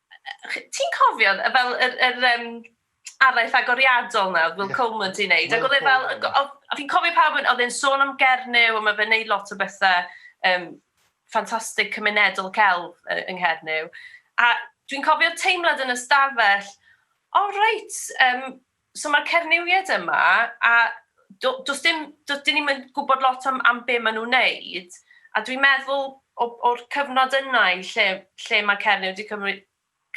Ti'n cofio, fel yr, yr um, araith agoriadol na, Will yeah. Coleman ti'n neud, ac oedd e fel, a fi'n cofio pawb yn, oedd e'n sôn am Gernyw, a mae fe'n neud lot o bethau um, ffantastig cymunedol celf yng Nghernyw. A dwi'n cofio teimlad yn ystafell, o oh, reit, um, So mae'r cernywiaid yma a do, does dim, does dim ni'n gwybod lot am, am be maen nhw'n neud. A dwi'n meddwl o'r cyfnod yna i lle, lle mae Cernyw wedi cymryd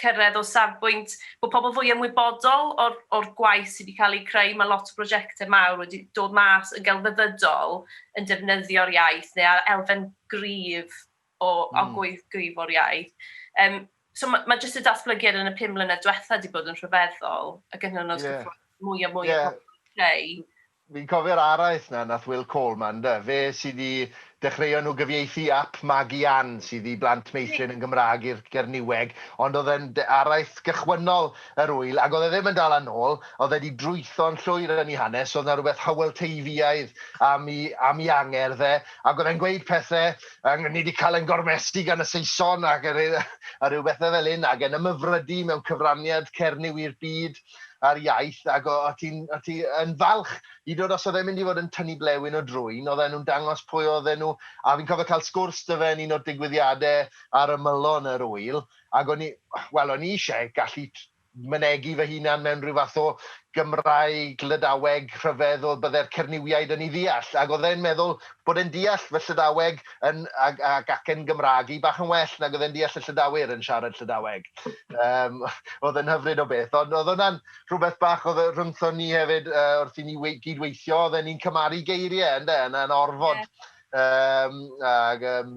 cyrraedd o safbwynt bod pobl fwy ymwybodol o'r, or gwaith sydd wedi cael ei creu. Mae lot o brosiectau mawr wedi dod mas yn gelfyddydol yn defnyddio'r iaith neu ar elfen gryf o, o gweith gyfo'r iaith. Um, so mae ma jyst y datblygiad yn y pum mlynedd diwetha wedi bod yn rhyfeddol, ac yn hynod yeah. mwy a mwy yeah. o creu. Fi'n cofio'r
araith na, nath Will Coleman, da. fe sydd wedi dechreuo nhw gyfieithu ap Magi Ann sydd i blant meithrin yn Gymraeg i'r Gerniweg, ond oedd e'n araith gychwynnol yr wyl, ac oedd e ddim yn dal yn ôl, oedd e wedi drwytho'n llwyr yn ei hanes, oedd yna rhywbeth hywel teifiaidd am i, am i angerdd e, ac oedd e'n gweud pethau ac ni wedi cael ein gormesu gan y Saeson ac a rhyw a rhyw bethau fel hyn ac yn ymhyfrydu mewn cyfraniad Cernyw i'r byd a'r iaith ac o o ti'n o ti yn falch i dod os oedd e'n mynd i fod yn tynnu blewyn o drwyn oedden nhw'n dangos pwy oedden nhw a fi'n cofio cael sgwrs da fe yn un o'r digwyddiadau ar ymylon yr ŵyl ac o'n i wel o'n i eisiau gallu mynegi fy hunan mewn rhyw fath o Gymraeg Lydaweg rhyfedd oedd bydde'r Cernywiaid yn ei ddeall, ac oedd e'n meddwl bod e'n deall fy Llydaweg yn, ac, ac, ac yn Gymraeg i bach yn well nag oedd e'n deall y Llydawir yn siarad Llydaweg. Um, oedd e'n hyfryd o beth, ond oedd hwnna'n rhywbeth bach oedd e- rhyngthon ni hefyd uh, wrth i ni wei- gydweithio, oedd e'n ni'n cymaru geiriau, ynde, yna'n orfod. Yeah. Um, ac, um,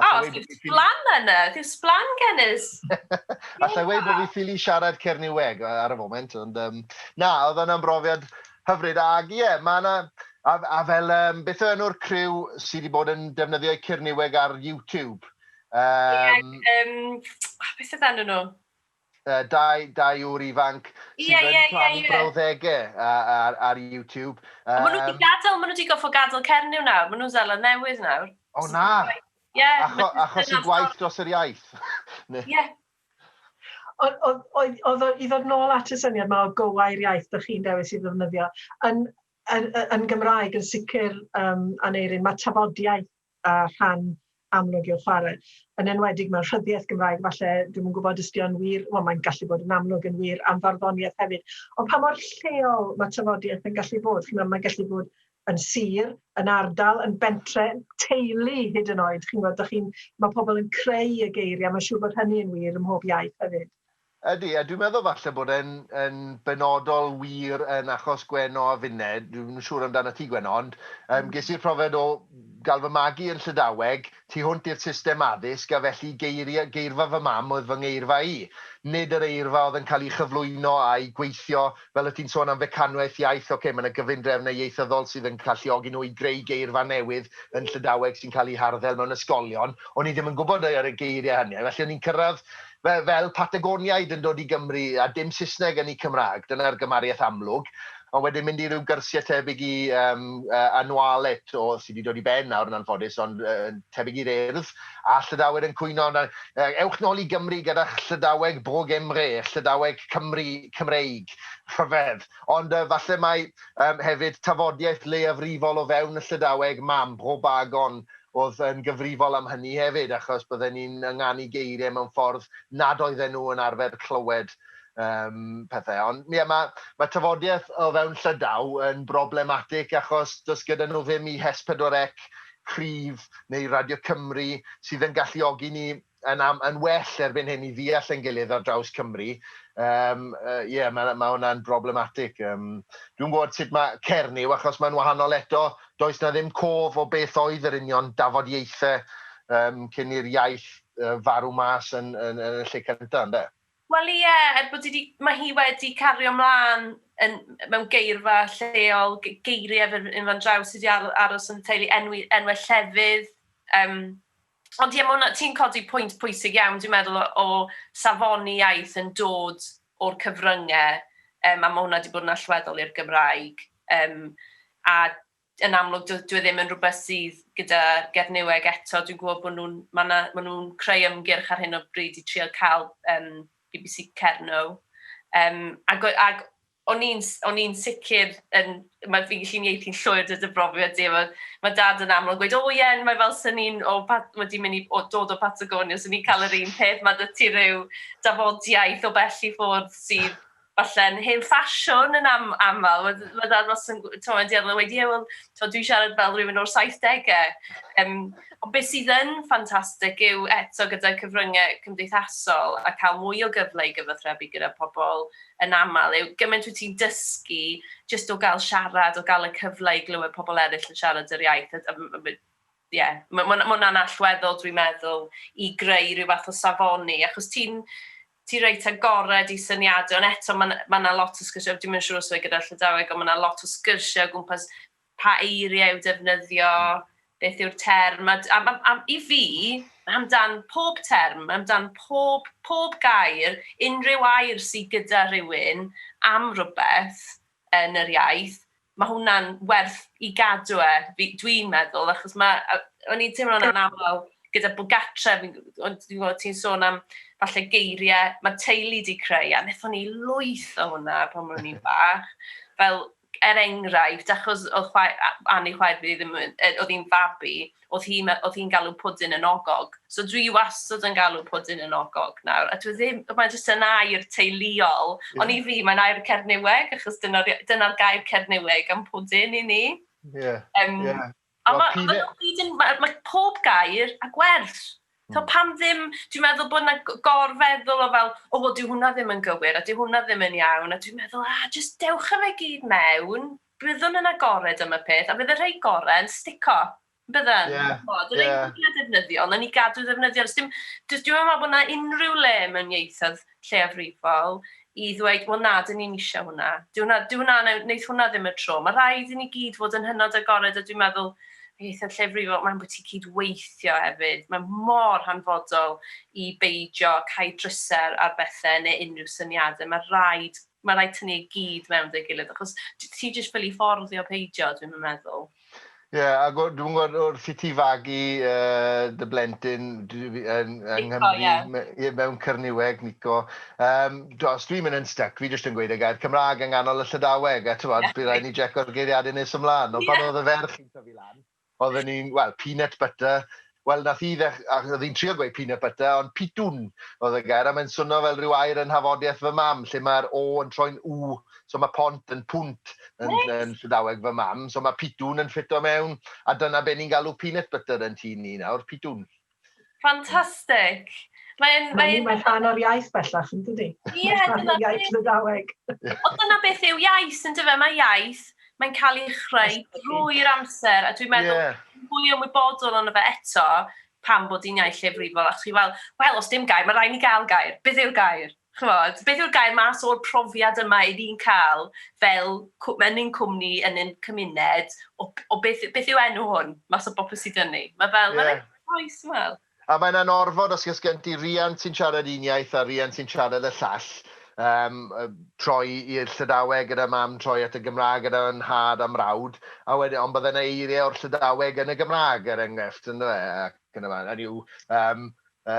A oh,
ti'n sblan yna, ti'n sblan genus. a ti'n
gweud bod fi ffili siarad Cerniweg ar y foment, ond um, na, oedd yna'n brofiad hyfryd. Ac ie, yeah, mae yna, a, a fel um, beth o enw'r criw sydd wedi bod yn defnyddio Cerniweg ar YouTube? Um, yeah, um,
beth oedd enw nhw? uh, dau,
dau ŵr ifanc sydd yeah, yn yeah, plannu yeah, yeah. brawddegau uh, ar, ar YouTube. Um, maen nhw wedi gadael,
maen nhw wedi goffo gadael Cernyw nawr, maen nhw'n zela newydd nawr. O na!
Yeah, Acho, achos i gwaith dros yr iaith. Ie.
Oedd i ddod nôl at y syniad mae o gowair iaith ydych chi'n dewis i ddefnyddio, yn, yn, yn Gymraeg yn sicr um, Aneirin, mae tafodiaeth a rhan amlwg yw'r chwarae. Yn enwedig mewn rhyddiaith Gymraeg, falle, dwi'm yn gwybod os 'di o'n wir, wel mae'n gallu bod yn amlwg yn wir am farddoniaeth hefyd, ond pa mor lleol mae tafodiaith yn gallu bod? Chi'n gwybod, mae'n gallu bod yn sir, yn ardal, yn bentre, teulu hyd yn oed, chi'n gwybod, dych chi'n, mae pobl yn creu y geiriau, mae'n siŵr bod hynny yn wir ym mhob iaith hefyd. Ydy, a dwi'n
meddwl falle bod e'n yn benodol wir yn achos Gwenno a finne, dwi'm yn siŵr amdanat ti Gwenno, ond yym ges i'r profiad o gael fy magu yn Llydaweg, tu hwnt i'r system addysg, a felly geiria- geirfa fy mam oedd fy ngeirfa i. Nid yr eirfa oedd yn cael ei chyflwyno a'i gweithio Fel o't ti'n sôn am fecanwaith iaith, ocê, mae 'na gyfundrefnau ieithyddol sydd yn galluogi nhw i greu geirfa newydd yn Llydaweg sy'n cael eu harddel mewn ysgolion. O'n i ddim yn gwybod ar y geiriau hynny. Felly o'n i'n cyrraedd fel Patagoniaid yn dod i Gymru a dim Saesneg yn eu Cymraeg. Dyna'r gymariaeth amlwg. Ond wedyn mynd i ryw gyrsiau tebyg i Anualet, sy 'di dod i ben nawr yn anffodus, ond tebyg i'r Urdd. a Llydaweg yn cwyno amdano. Yy, ewch nôl i Gymru gyda'ch Llydaweg bog Emre, Llydaweg Cymru, Cymreig. Rhyfedd. Ond yy, falle mai yym, hefyd tafodiaith leiafrifol o fewn y Llydaweg, mam, Bro Bagon, oedd yn gyfrifol am hynny hefyd, achos bydden ni'n ynganu geiriau mewn ffordd nad oedden nhw yn arfer clywed um, pethau. Ond ie, mae, mae tafodiaith o fewn Llydaw yn broblematig achos does gyda nhw ddim i Hes 4 Ec cryf neu Radio Cymru sydd yn galluogi ni yn am- yn well erbyn hyn i ddeall ein gilydd ar draws Cymru. Yym, yy, ie, ma' 'na- ma' hwnna'n broblematig. Yym, dwi'm gwybod sut ma' Cernyw, achos mae'n wahanol eto, does 'na ddim cof o beth oedd yr union dafodiaethau yym, cyn i'r iaith yy, farw mas yn yn yn y lle cynta', ynde? Wel ie,
er bod hi 'di... Mae hi wedi cario mlaen yn, mewn geirfa lleol, geiriau fel hyn fan draw sydd wedi aros yn y teulu, enwi, enwau llefydd. Um, ond ie, hwnna, ti'n codi pwynt pwysig iawn, dwi'n meddwl, o, o safoni iaith yn dod o'r cyfryngau, um, a mae hwnna wedi bod yn allweddol i'r Gymraeg. Um, a yn amlwg dyw e ddim yn rhywbeth sydd gyda Gernyweg eto. Dwi'n gwybod bod nhw'n, mae yna, maen nhw'n creu ymgyrch ar hyn o bryd i trio cael um, BBC Cerno. Um, ac, ac o'n i'n sicr, yn, mae fi'n gallu ieithu'n llwyr dod y brofiad di, mae, mae dad yn amlwg gweud, o oh, ie, yeah, mae fel sy'n ni'n wedi mynd i o, dod o Patagonia, sy'n ni'n cael yr un peth, mae dy ti rhyw dafodiaeth o bell i ffwrdd sydd falle'n hen ffasiwn yn am, aml, mae, mm. mae dad wastad yn, ti'n mynd i arno, wedi, ie, wel, dwi'n siarad fel rhywun o'r 70au. Um, ond beth sydd yn ffantastig yw eto gyda cyfryngau cymdeithasol a cael mwy o gyfle i gyfathrebu gyda pobl yn aml yw gymaint wyt ti'n dysgu jyst o gael siarad, o gael y cyfle i glywed pobl eraill yn siarad yr iaith. A, a, a, Ie, ma' ma' ma' hwnna'n allweddol dwi'n meddwl i greu rhyw fath o safoni achos ti'n ti reit agored i syniadau ond eto ma' 'na ma' 'na lot o sgyrsiau, dwi'm yn siŵr os yw e gyda Llydaweg ond ma' 'na lot o sgyrsiau o gwmpas pa eiriau i'w defnyddio, beth yw'r term a d- a ma' a i fi amdan pob term, amdan pob pob gair, unrhyw air sy gyda rhywun am rywbeth, yn yr iaith, mae hwnna'n werth i gadw e, dwi'n meddwl, achos mae, o'n i'n teimlo'n anaml gyda bod gatre, ond dwi'n gwybod ti'n sôn am falle geiriau, mae teulu di creu, a wnaethon ni lwyth o hwnna pan mwyn ni'n bach, fel er enghraifft, achos oedd chwaer, Annie chwaer fi ddim, oedd hi'n fabi, O'dd hi me- o'dd hi'n galw pwdin yn ogog. So dwi wastad yn galw pwdin yn ogog nawr. A dwi ddim, mae jyst yn air teuluol. Ie. Ond i fi, mae'n air Cerniweg, achos dyna'r ia- dyna'r gair Cerniweg am pwdin i ni. Ie, Yym, ie. A Wel, ma' p'un ma' e- nhw gyd yn, ma' ma' pob gair a gwerth. So Hmm. pam ddim, dwi'n meddwl bod yna g- gorfeddwl o fel, o wel dyw hwnna ddim yn gywir a dyw hwnna ddim yn iawn, a dwi'n meddwl, ah, jyst dewch â fe gyd mewn, Byddwn yn agored am y peth, a bydd y rhai gorau yn stico. Byddan. Ie, Ch'mod, y rhai ie. mwya defnyddiol, nawn ni gadw ddefnyddiol. Does dim, does, dwi'm yn meddwl bod 'na unrhyw le mewn ieithoedd lleiafrifol i ddweud, wel na, dyn ni'n eisiau hwnna. Dyw hwnna, dyw hwnna, wneith hwnna ddim y tro. Mae rhaid i ni gyd fod yn hynod agored, a dwi'n meddwl ieithoedd lleiafrifol, mae'n bwyty cyd-weithio hefyd. Mae mor hanfodol i beidio cael drysau ar bethau neu unrhyw syniadau. Mae rhaid Mae rhaid tynnu i gyd mewn 'da'i gilydd, achos ti jyst ffili fforddio peidio, dwi'm yn meddwl. Ie, ac
o- dwi'm yn gwybod, wrth i ti fagu yy dy blentyn dwi fi- yn yng Nghymru... Nico, ie. ...me- ie, mewn Cyrniweg, Nico, yym, d- os dwi'n mynd yn styc, fi jyst yn gweud y gair Cymraeg yng nghanol y Llydaweg, a t'mod, bydd raid i ni jeco'r geiriadur nes ymlaen, ond pan oedd y ferch yn tyfu lan, Oedden ni'n, wel, peanut butter, wel, nath hi ddech- a- o'dd hi'n trio gweud peanut butter, ond pitwn oedd y gair, a mae'n swno fel rhyw air yn nhafodiaith fy mam, lle mae'r O yn troi'n W, so mae pont yn pwnt yn Neis! yn Llydaweg fy mam, so mae pitwn yn ffito mewn, a dyna be ni'n galw peanut butter yn tŷ ni nawr, pitwn. Ffantastig!
Mae'n... Mae hi'n rhan o'r iaith bellach, yn dydi? Ie, dyna beth. Iaith Lydaweg. Ond dyna beth
yw iaith, yn dyfe? Mae iaith, mae'n cael ei chreu drwy'r amser, a dwi'n meddwl, yeah. fwy ymwybodol ond fe eto, pam bod hi'n iaith llefrifol, a chi fel, wel, os dim gair, mae rhaid ni gael gair. Beth yw'r gair? chimod, beth yw'r gair, mas o'r profiad yma 'yn ni'n cael fel cw- yn ein cwmni, yn ein cymuned, o, o beth, beth yw enw hwn, mas o bopeth sydd yn ni. Mae fel, yeah. mae'n eitha oes, ti'n meddwl. A mae'n anorfod
os ys gen ti riant sy'n siarad un iaith a riant sy'n siarad y llall, um, troi i'r Llydaweg gyda mam, troi at y Gymraeg gyda nhad a mrawd, a wedyn, ond bydde yna eiriau o'r Llydaweg yn y Gymraeg, er enghraifft, yn dweud, ac yn y fan. Hynny yw, um,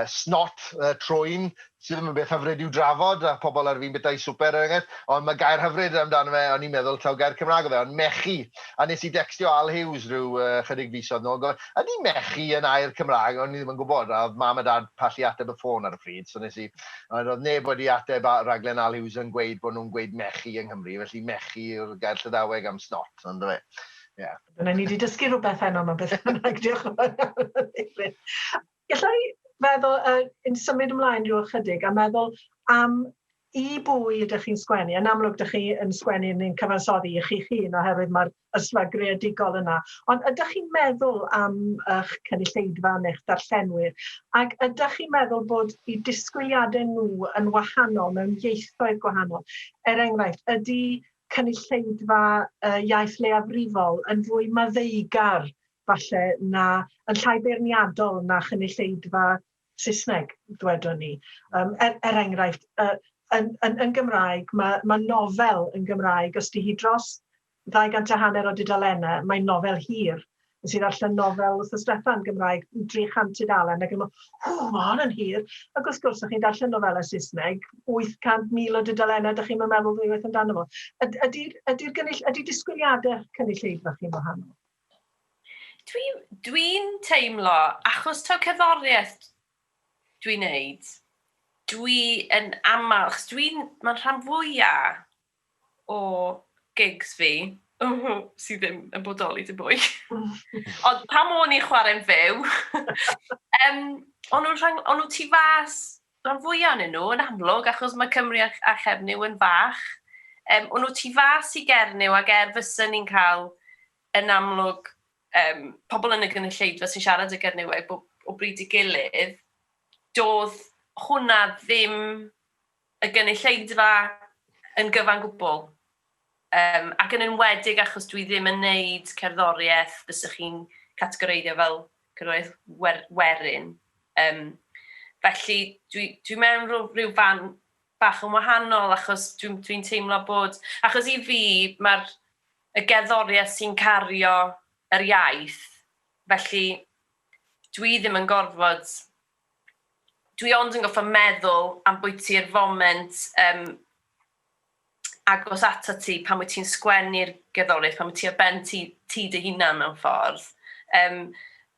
Snot, troi'n, sydd ddim yn beth hyfryd i'w drafod, a pobl ar fin bita eu swper er enghraifft, ond mae gair hyfryd amdano fe, o'n i'n meddwl taw gair Cymraeg oedd e, ond mechu, a wnes i decstio Al Hughes ryw chydig fisoedd nôl yn gofyn, ydy mechu yn air Cymraeg, o'n i ddim yn gwybod, a oedd Mam a Dad pallu ateb y ffôn ar y pryd, so wnes i, ond oedd neb wedi ateb rhaglen Al Hughes yn gweud bod nhw'n gweud mechu yng Nghymru, felly mechu yw'r gair Llydaweg am snot, on'd yfe? Ie. Dyna ni 'di
dysgu rhywbeth heno 'ma beth bynnag, diolch yn fawr iawn David. Galla i feddwl yy yn symud ymlaen ryw ychydig a meddwl am i bwy ydych chi'n sgwennu? Yn amlwg dych chi yn sgwennu neu'n cyfansoddi i chi'ch hun oherwydd mae'r ysfa greadigol yna. Ond ydych chi'n meddwl am ych cynulleidfa neu'ch darllenwyr? Ac ydych chi'n meddwl bod i disgwyliadau nhw yn wahanol mewn ieithoedd gwahanol? Er enghraifft, ydy cynulleidfa uh, iaith leiafrifol yn fwy maddeugar falle, na, yn llai beirniadol na chynulleidfa Saesneg, ddwedwn i. Um, er, er enghraifft, uh, yn, yn, yn Gymraeg, mae, mae nofel yn Gymraeg, os di hi dros 200 a hanner o dudalennau, mae'n nofel hir. Nes i ddarllen nofel wrth y Steffan Gymraeg, 300 tudalen, ac yn meddwl, hw, mae hon yn hir. Ac wrth gwrs, ydych chi'n darllen nofelau Saesneg, 800,000 o dudalennau, ydych chi'n meddwl ddwywaith amdano fo. Ydy'r ydy ydy gynnull, ydy disgwyliadau cynulleidfa chi'n wahanol? Dwi
dwi'n teimlo, achos taw cerddoriaeth dwi'n neud, dwi yn aml, achos dwi'n, ma'n rhan fwya o gigs fi, sy ddim yn bodoli dim mwy, ond pan o'n i'n chwarae'n fyw, yym, o'n nhw'n rhan, o'n nhw tu fas Rhan fwya onyn nhw yn amlwg achos mae Cymru a a Chernyw yn fach. Yym o'n nhw tu fas i Gernyw ac er fysen ni'n cael yn amlwg yym pobl yn y gynulleidfa sy'n siarad y Gerniweg bob o bryd i gilydd, doedd hwnna ddim y gynulleidfa yn gyfan gwbl. Yym, ac yn enwedig achos dwi ddim yn wneud cerddoriaeth fysech chi'n categoreiddio fel cerddoriaeth wer- werin. Yym, felly dwi dwi mewn rhyw rhyw fan bach yn wahanol achos dwi dwi'n teimlo bod... Achos i fi, mae'r y gerddoriaeth sy'n cario yr iaith, felly dwi ddim yn gorfod... Dwi ond yn gorfod meddwl ambwyty'r foment yym agos atat ti pan wyt ti'n sgwennu'r gerddoriaeth, pan wyt ti ar ben ti, ti dy hunan mewn ffordd, um,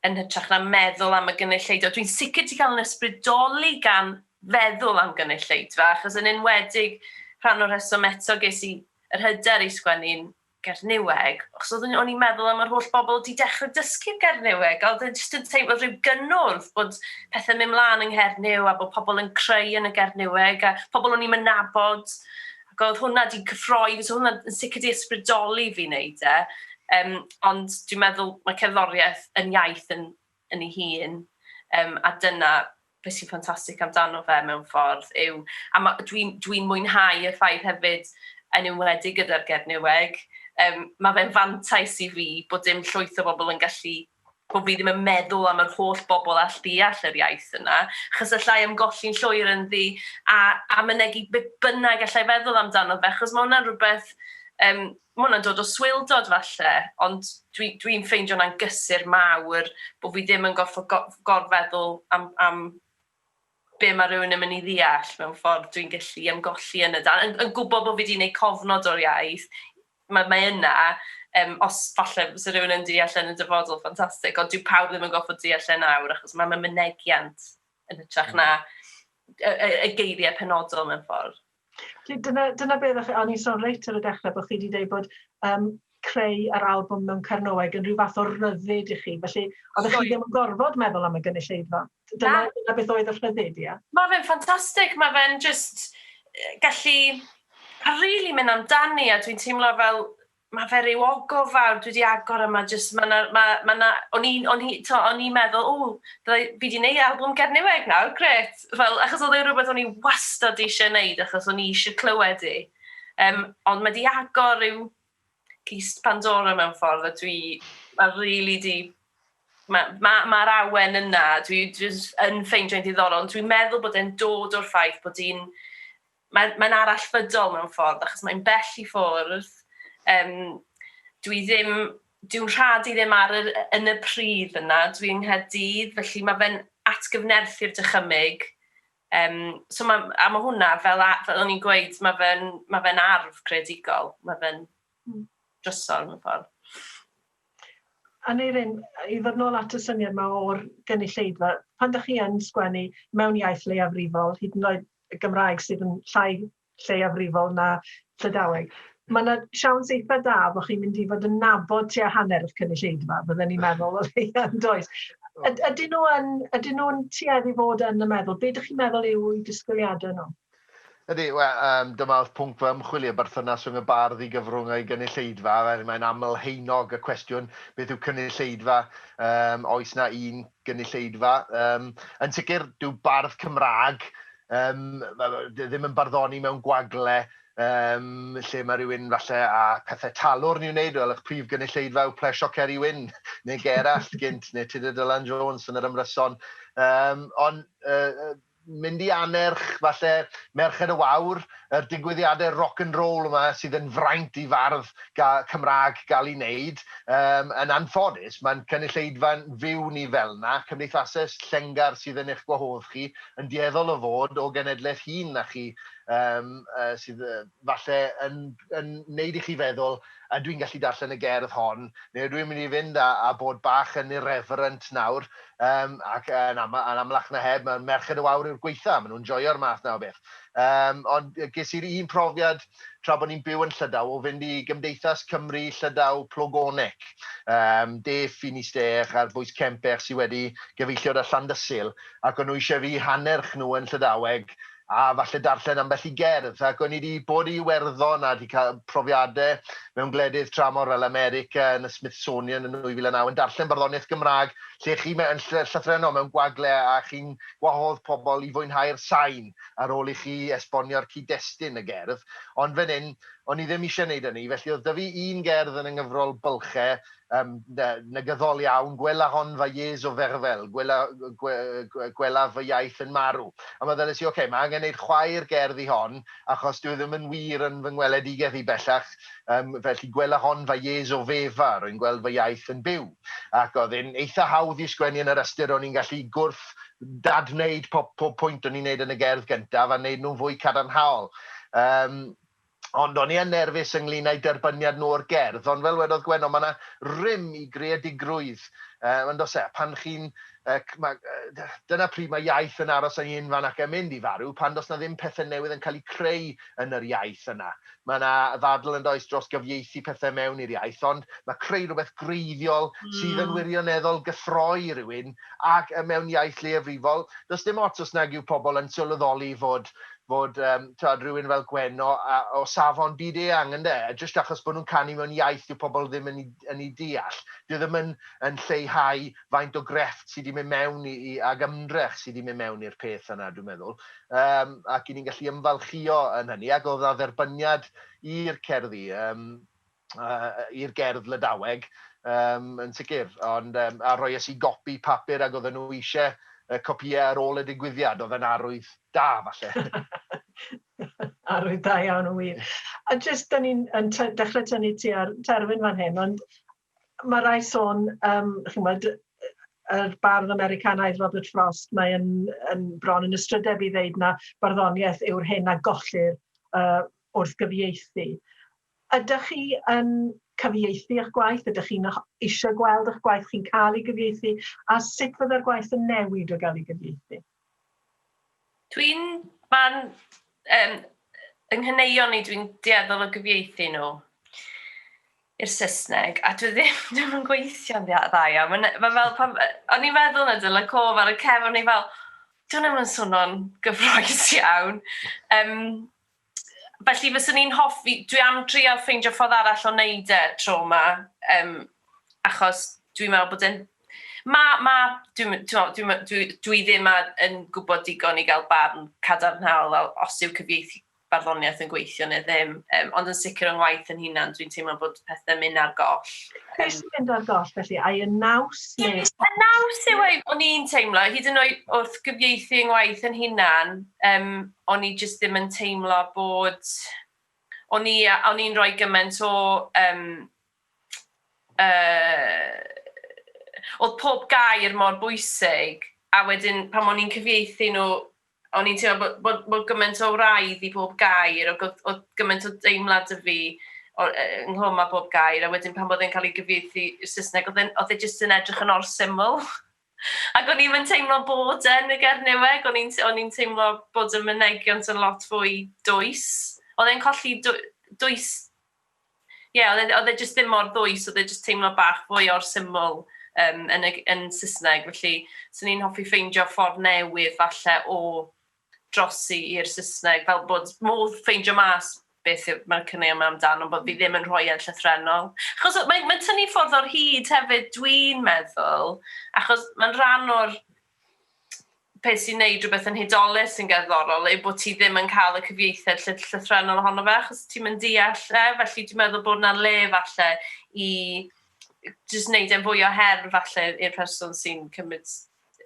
yn hytrach na meddwl am y gynulleidfa. Dwi'n sicr ti cael yn ysbrydoli gan feddwl am gynulleidfa, achos yn enwedig rhan o'r rheswm eto ges i yr hyder i sgwennu'n Gernyweg, achos oedd o'n i'n meddwl am yr holl bobl wedi dechrau dysgu Gernyweg, a oedd e jyst yn teimlo rhyw gynnwrf bod pethau'n mynd mlaen yng Nghernyw a bod pobl yn creu yn y Gernyweg, a pobl o'n i'm yn nabod, ac oedd hwnna wedi cyffroi fi, so hwnna yn sicr wedi ysbrydoli fi wneud e. Um, ond dwi'n meddwl mae cerddoriaeth yn iaith yn yn ei hun, yym, a dyna beth sy'n ffantastig amdano fe mewn ffordd yw... A ma'... dwi'n dwi'n mwynhau y ffaith hefyd, yn enwedig gyda'r Gerdd Neweg, yym, ma' fe'n fantais i fi bod dim llwyth o bobl yn gallu... bo' fi ddim yn meddwl am yr holl bobl all ddeall yr iaith yna, achos alla i ymgolli'n llwyr ynddi a a mynegi be bynnag alla i feddwl amdano fe, achos ma' hwnna'n rhywbeth yym... Mae hwnna'n dod o swildod falle, ond dwi, dwi'n ffeindio hwnna'n gysur mawr, bod fi ddim yn gorfod go- gorfeddwl am, am be mae rhywun yn mynd i ddeall mewn ffordd dwi'n gallu ymgolli yn y dan. Yn, yn gwybod bod fi wedi gwneud cofnod o'r iaith, mae, mae yna, um, os falle fysa rhywun yn deall yn y dyfodol, ffantastig, ond dyw pawb ddim yn gorfod deall e nawr, achos mae, mae mynegiant yn hytrach na y, y, y geiriau penodol mewn ffordd. Felly dyna, dyna
beth, a o'n i'n sôn reit ar y dechrau bod chi wedi dweud bod um, creu yr albwm mewn Cernoeg yn rhyw fath o ryddid i chi, felly oedd chi ddim yn gorfod meddwl am y gynulleidfa. Dyna, dyna beth oedd y rhyddid, ia? Mae fe'n ffantastig, mae
fe'n just gallu rili really mynd amdani a dwi'n teimlo fel Ma fe ryw ogof fawr dwi di agor yma jyst ma na ma ma na o'n i'n o'n i t'o' o'n i'n meddwl ww fyddai fi di neu' albwm Gernyweg nawr grêt fel achos odd e'n rwbeth o'n i wastad eisie neud achos o'n i eisie clywed 'i yym ond ma di agor ryw cist Pandora mewn ffordd a dwi ma rili di ma ma ma'r awen yna dwi jys yn ffeindio'n ddiddorol ond dwi'n meddwl bod e'n dod o'r ffaith bod i'n Mae'n mae'n arallfydol mewn ffordd achos mae'n bell i ffwrdd, yym dwi ddim... dyw'n rhad i ddim ar yr... yn y pridd yna, dwi yng Nghaerdydd felly mae fe'n atgyfnerthu'r dychymyg, yym so ma'... a ma' hwnna fel a- fel o'n i'n gweud ma' fe'n ma' fe'n arf creadigol, ma' fe'n drysor mewn ffordd.
Aneurin, i ddod nôl at y syniad 'ma o'r gynulleidfa, pan 'da chi yn sgwennu mewn iaith leiafrifol, hyd yn oed y Gymraeg sydd yn llai lleiafrifol na Llydaweg. Mae yna siawns eitha da bod chi'n mynd i fod yn nabod tua hanner y cynulleidfa, bydden ni'n meddwl o leia yn does. Ydyn nhw yn, ydyn nhw'n tuedd i fod yn y meddwl? Be dych chi'n meddwl yw i disgwyliadau nhw? Ydy, we,
um, dyma oedd pwnc fy ymchwil i, y berthynas rhwng y bardd i gyfrwng a'i gynulleidfa, er mae'n aml heinog y cwestiwn, beth yw cynulleidfa? Um, oes na un gynulleidfa. Um, yn sicr, dyw bardd Cymraeg um, ddim yn barddoni mewn gwagle um, lle mae rhywun falle a pethau talwr ni'n wneud, fel eich prif gynulleidfa yw plesio Ceri Wyn neu Gerallt gynt neu Tudur Dylan Jones yn yr ymryson. Um, ond uh, mynd i annerch, falle, Merched y Wawr, yr digwyddiadau rock and roll yma sydd yn fraint i fardd Cymraeg gael ei wneud. Yym, yn anffodus, mae'n cynulleidfa'n fyw ni fel 'na, cymdeithasau llengar sydd yn eich gwahodd chi, yn dueddol o fod o genedlaeth hŷn na chi, yym, sydd falle yn yn neud i chi feddwl, ydw i'n gallu darllen y gerdd hon, neu ydw i'n mynd i fynd a a bod bach yn irreverent nawr, yym ac yn am- yn amlach na heb ma' Merched y Wawr yw'r gwaetha, ma' nhw'n joio'r math 'na o beth. Yym ond ges i'r un profiad tra bod ni'n byw yn Llydaw o fynd i Gymdeithas Cymry Llydaw Plogonec, yym de Finisterre a'r bwys Kemper sy wedi gyfeilliod â Llandysul, ac o'n nhw eisiau fi hannerch nhw yn Llydaweg, a falle darllen ambell i gerdd, ac o'n i 'di bod i Iwerddon a 'di cael profiadau mewn gwledydd tramor fel America yn y Smithsonian yn 2009 yn darllen barddoniaeth Gymraeg lle chi mewn ll- llythrennol mewn gwagle a chi'n gwahodd pobl i fwynhau'r sain ar ôl i chi esbonio'r cyd-destun y gerdd, ond fan hyn o'n i ddim eisiau 'neud hynny, felly oedd 'da fi un gerdd yn y nghyfrol Bylchau Yym, na, negyddol iawn, gwela hon fa Iesu o Ferfel, gwela, gwe, gwe, gwelaf fy iaith yn marw. A meddyles i, ocê, mae angen wneud chwaer gerdd i hon, achos dyw e ddim yn wir yn fy ngweledigaeth i bellach, yym, felly gwela hon fa Iesu o Fefa, rwy'n gweld fy iaith yn byw. Ac oedd e'n eitha hawdd i sgwennu yn yr ystyr ro'n i'n gallu gwrth dad-wneud pob, pob pwynt o'n i'n wneud yn y gerdd gyntaf a wneud nhw'n fwy cadarnhaol. Yym, Ond o'n i yn nerfus ynglŷn â'u derbyniad nhw o'r gerdd, ond fel wedodd Gwenno, mae yna rym i greadigrwydd, yy, yn does e? A pan chi'n, yy, c- ma', yy, dyna pryd mae iaith yn aros ei hun fan ac yn mynd i farw, pan does 'na ddim pethe newydd yn cael eu creu yn yr iaith yna. Mae yna ddadl yn does dros gyfieithu pethe mewn i'r iaith, ond mae creu rhywbeth gwreiddiol sydd yn wirioneddol gyffroi i rywun ac yy mewn iaith leiafrifol, does dim ots os nag yw pobl yn sylweddoli fod fod yym t'wod rhywun fel Gwenno a o safon byd eang ynde? A jyst achos bod nhw'n canu mewn iaith dyw pobl ddim yn ei yn ei deall. Dyw e ddim yn yn lleihau faint o grefft sy' 'di mynd mewn i i ag ymdrech sy' 'di mynd mewn i'r peth yna dwi'n meddwl. Yym ac 'yn ni'n gallu ymfalchïo yn hynny ac o'dd 'na dderbyniad i'r cerddi yym i'r gerdd Lydaweg, um, yn sicr, ond um, a roies i gopi papur ac oedden nhw eisiau uh, copïau ar ôl y digwyddiad, oedd yn arwydd da, falle.
arwydd da iawn o wir. A jyst, da ni'n dechrau tynnu ti ar terfyn fan hyn, ond mae rai sôn, um, chi'n bod, yr bardd Americanaidd Robert Frost, mae yn, yn bron yn ystrydeb i ddeud na barddoniaeth yw'r hyn a gollir uh, wrth gyfieithu. Ydych chi yn cyfieithu eich gwaith? Ydych chi'n eisiau gweld eich gwaith chi'n cael ei gyfieithu? A sut fyddai'r gwaith yn newid o gael ei gyfieithu? Dwi'n... Mae'n...
Um, yng nghaneuon i dwi'n dueddol o gyfieithu nhw i'r Saesneg, a dwi ddim, ddim yn gweithio'n dda iawn. Mae'n ma fel pan... O'n i'n meddwl na dyna cof ar y cefn, o'n i fel, dwi'n ddim yn swnio'n gyffroes iawn. Um, Felly fyswn i'n hoffi, dwi am drial ffeindio ffordd arall o wneud e tro ma, um, achos dwi'n meddwl bod e'n... Ma, ma, dwi'n dwi, dwi, dwi ddim yn gwybod digon i gael barn cadarnhaol os yw cyfieithu barddoniaeth yn gweithio neu ddim, um, ond yn sicr o'n ngwaith yn hunan, dwi'n teimlo bod pethau'n mynd ar goll. Beth sy'n mynd ar
goll felly? Ai y naws? Neu... Y naws
yw ei, o'n i'n teimlo, hyd yn oed wrth gyfieithu yn ngwaith yn hunan, um, o'n i jyst ddim yn teimlo bod... o'n i a o'n i'n rhoi gymaint o yym yy o'dd pob gair mor bwysig a wedyn pan o'n i'n cyfieithu nhw o'n i'n teimlo bo' bo' bo' gymaint o wraidd i bob gair ac o'dd o'dd gymaint o deimlad 'da fi o- yy ynghlwm â bob gair a wedyn pan o'dd e'n cael ei gyfieithu i'r Saesneg o'dd e'n o'dd e jyst yn edrych yn or syml. Ac o'n i'm yn teimlo bod e yn y Gernyweg, o'n i'n o'n i'n teimlo bod y mynegiant yn lot fwy dwys. O'dd e'n colli dw- dwys ie o'dd e o'dd e jyst ddim mor ddwys, o'dd e jyst teimlo bach fwy o'r syml yym yn y yn Sysneg, felly swn i'n hoffi ffeindio ffordd newydd falle o drosi i'r Saesneg fel bod modd ffeindio mas beth yw... mae'r cynnau yma amdano ond bod fi ddim yn rhoi e'n llythrennol. Achos o- mae'n mae'n tynnu ffwrdd o'r hud hefyd dwi'n meddwl achos mae'n rhan o'r peth sy'n neud rhywbeth yn hudolus sy'n gerddorol yw bod ti ddim yn cael y cyfieithiad lly- llythrennol ohono fe achos ti'm yn deall e felly dwi'n meddwl bod 'na le falle i jyst neud e'n fwy o her falle i'r person sy'n cymryd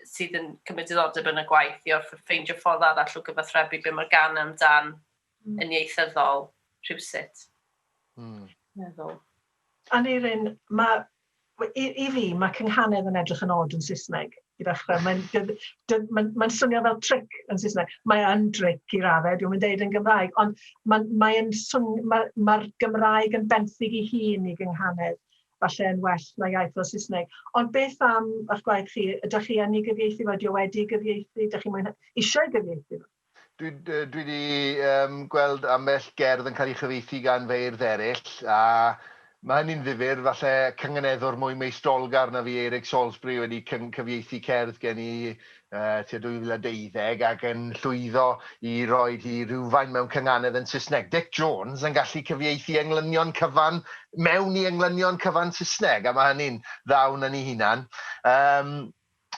sydd yn cymryd diddordeb yn y gwaith i orfod ffeindio ffordd arall o gyfathrebu be mae'r gan amdan mm. yn ieithyddol rhywsut. Mm. Meddwl.
Aneirin, mae, i, i fi, mae cynghanedd yn edrych yn od yn Saesneg i ddechrau. Mae'n mae, mae swnio fel tric yn Saesneg. Mae yn tric i raddau, dwi'n mynd deud yn Gymraeg, ond mae'r mae mae, mae Gymraeg yn benthyg i hun i gynghanedd. Falle yn well na iaith fel Saesneg. Ond beth am ych gwaith chi? Ydych chi yn ei gyfieithu fo? Ydy o wedi ei gyfieithu? Ydych chi'n mwynhau... eisiau ei gyfieithu fo? Dwi dwi 'di yym
gweld ambell gerdd yn cael ei chyfieithu gan feirdd eraill, a ma' hynny'n ddifyr. Falle cynganeddwr mwy meistrolgar na fi, Eirig Salisbury, wedi cyn- cyfieithu cerdd gen i tua 2012 ac yn llwyddo i roi hi rywfaint mewn cynganedd yn Saesneg. Dic Jones yn gallu cyfieithu englynion cyfan mewn i englynion cyfan Saesneg, a mae hynny'n dda wna ni hunan. Um,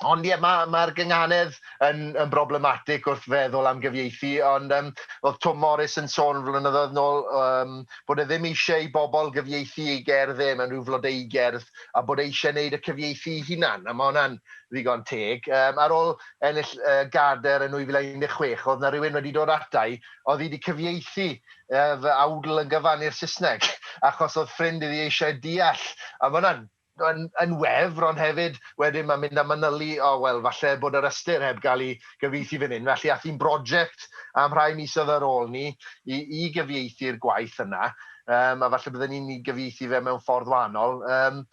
Ond ie, mae'r ma, ma gynganedd yn, yn broblematic wrth feddwl am gyfieithu, ond um, oedd Tom Morris yn sôn flynyddoedd nôl um, bod e ddim eisiau i bobl gyfieithu ei gerdd e mewn rhyw flodeu gerdd, a bod e eisiau wneud y cyfieithu ei hunan, a mae hwnna'n ddigon teg. Yym, ar ôl ennill y Gadair yn 2016, oedd 'na rywun wedi dod ata i, oedd hi wedi cyfieithu uh, fy awdl yn gyfan i'r Saesneg, achos oedd ffrind iddi eisiau deall. A mae hwnna'n yn, yn wefr, ond hefyd wedyn mae'n mynd a manylu, o oh, wel, falle bod yr ystyr heb gael ei gyfieithu fan hyn. Felly, ath hi'n brosiect am rhai misoedd ar ôl ni i, i gyfieithu'r gwaith yna, um, a falle byddwn ni'n ei gyfieithu fe mewn ffordd wahanol. Um,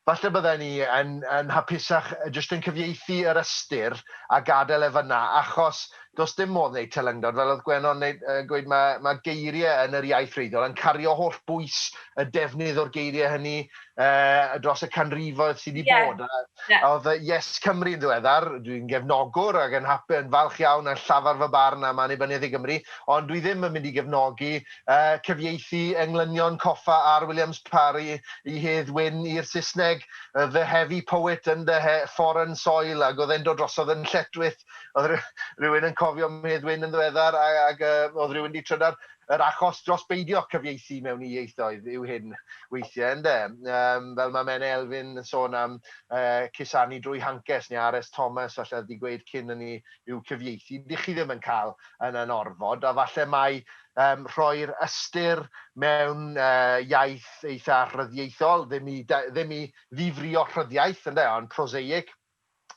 Falle bydden i yn yn hapusach jyst yn cyfieithu yr ystyr a gadael e fan'na achos does dim modd wneud telyngdod fel oedd Gwenno'n neud yy gweud ma' ma' geirie yn yr iaith wreiddiol yn cario holl bwys y defnydd o'r geirie hynny yy dros y canrifoedd sydd wedi bod a oedd yy Yes Cymru yn ddiweddar dwi'n gefnogwr ac yn hap- yn falch iawn a llafar fy barn am Annibyniaeth i Gymru ond dwi ddim yn mynd i gefnogi cyfieithu englynion coffa ar Williams Parry i Hedd Wyn i'r Saesneg, The Heavy Poet and the Foreign Soil, ac oedd e'n dod drosodd yn lletchwith. Oedd rhywun yn cofio am Hedd Wyn yn ddiweddar, ac oedd rhywun wedi trydar. Yr achos dros beidio cyfieithu mewn i ieithoedd yw hyn weithiau, ynde? Yym, fel mae Menna Elfyn yn sôn am cusanu drwy hancest, neu RS Thomas falle oedd wedi gweud cyn hynny, yw cyfieithu. Dych chi ddim yn cael yn yn orfod, a falle mai yym rhoi'r ystyr mewn yy iaith eitha rhyddiaethol, ddim i da- ddim i ddifrïo rhyddiaith ynde, ond prosaic,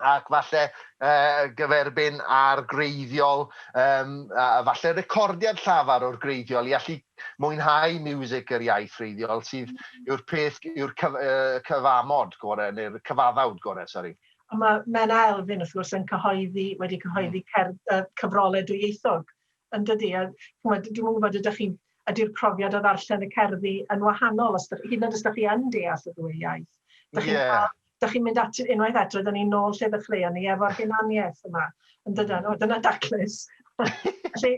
ac falle yy gyferbyn â'r gwreiddiol yym a a falle recordiad llafar o'r gwreiddiol i allu mwynhau miwsig yr iaith wreiddiol sydd yw'r peth yw'r cyf- yy cyfamod gore neu'r cyfaddawd gore sori. A mae Menna
Elfyn wrth gwrs yn cyhoeddi wedi cyhoeddi cerdd yy cyfrolau dwyieithog yndydi? A ch'mod, dwi'm yn gwybod ydych chi'n... Ydy'r profiad o ddarllen y cerddi yn wahanol os dych... hyd yn oed os dych chi yn deall y ddwy iaith? Dych chi'n cael... Ie. ...dych chi'n mynd at... unwaith eto, rydan ni'n ôl lle ddechreuon ni, efo'r hunaniaeth yma, yn dydan? O, dyna daclus! Felly,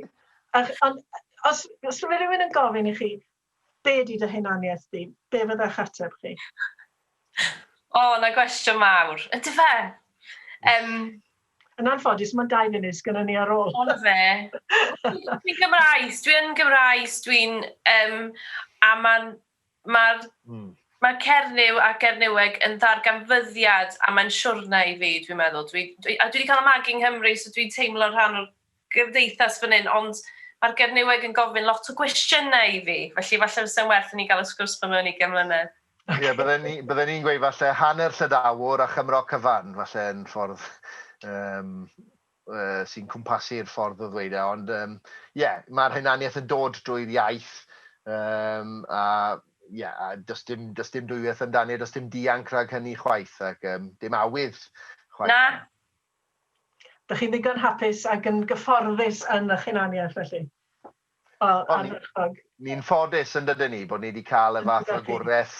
ych, ond os os ma' rywun yn gofyn i chi, Be ydy dy hunaniaeth di? Be fydda'ch ateb chi?
O, 'na gwestiwn mawr. Ydy fe? Um,
yn anffodus, mae'n dau funud sgynna ni ar ôl. Ond fe.
Dwi'n Gymraes, dwi'n Gymraes, dwi'n... Um, a mae'n... Mae'r mm. mae Cernyw a Gernyweg yn ddarganfyddiad a mae'n siwrna i fi, dwi'n meddwl. Dwi, dwi, a dwi wedi cael y magu yng Nghymru, so dwi'n teimlo rhan o'r gymdeithas fan hyn, ond mae'r Gernyweg yn gofyn lot o gwestiynau i fi, felly falle fysa'n werth i ni gael y sgwrs ma mewn ugain mlynedd. Ocê. Ie, bydden ni,
bydden ni'n gweud falle hanner Llydawr a Chymro cyfan, falle yn ffordd yym yy sy'n cwmpasu'r ffordd o ddweud e, ond yym ie, mae'r hunaniaeth yn dod drwy'r iaith yym a ie, a does dim, does dim dwywaith amdani a does dim dianc rhag hynny chwaith ac yym dim awydd chwaith. Na,
Dych chi'n ddigon
hapus ac yn gyfforddus yn y'ch hunaniaeth felly? O, ardderchog.
Ni'n ffodus yn dydyn ni bod ni wedi cael y fath fagwreth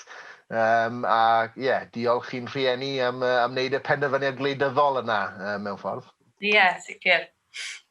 yym a ie, diolch i'n rhieni am yy am wneud y penderfyniad gwleidyddol yna yy mewn ffordd. Ie, sicr.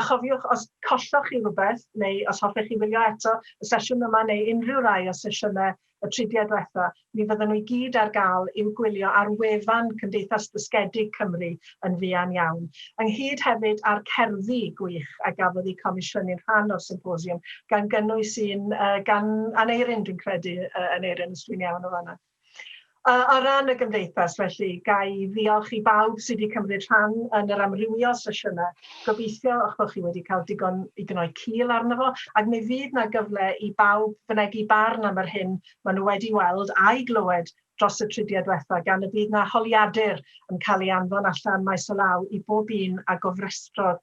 A chofiwch, os colloch chi rywbeth, neu os hoffech chi wylio eto y sesiwn yma neu unrhyw rai o sesiynau y tridiau diwetha', mi fyddan nhw i gyd ar gael i'w gwylio ar wefan Cymdeithas Ddysgedig Cymru yn fuan iawn, ynghyd hefyd â'r cerddi gwych a gafodd eu comisiynu'n rhan o'r symposiwm, gan gynnwys un gan Aneurin, dwi'n credu, Aneurin, os dwi'n iawn o fan'na. Ar ran y Gymdeithas, felly, ga i ddiolch i bawb sydd wedi cymryd rhan yn yr amrywiol sesiynau. Gobeithio eich bod chi wedi cael digon i gnoi cil arno fo, ac mi fydd 'na gyfle i bawb fynegi barn am yr hyn maen nhw wedi weld a'i glywed dros y tridiau diwetha' gan y bydd 'na holiadur yn cael ei anfon allan maes o law i bob un a gofrestrodd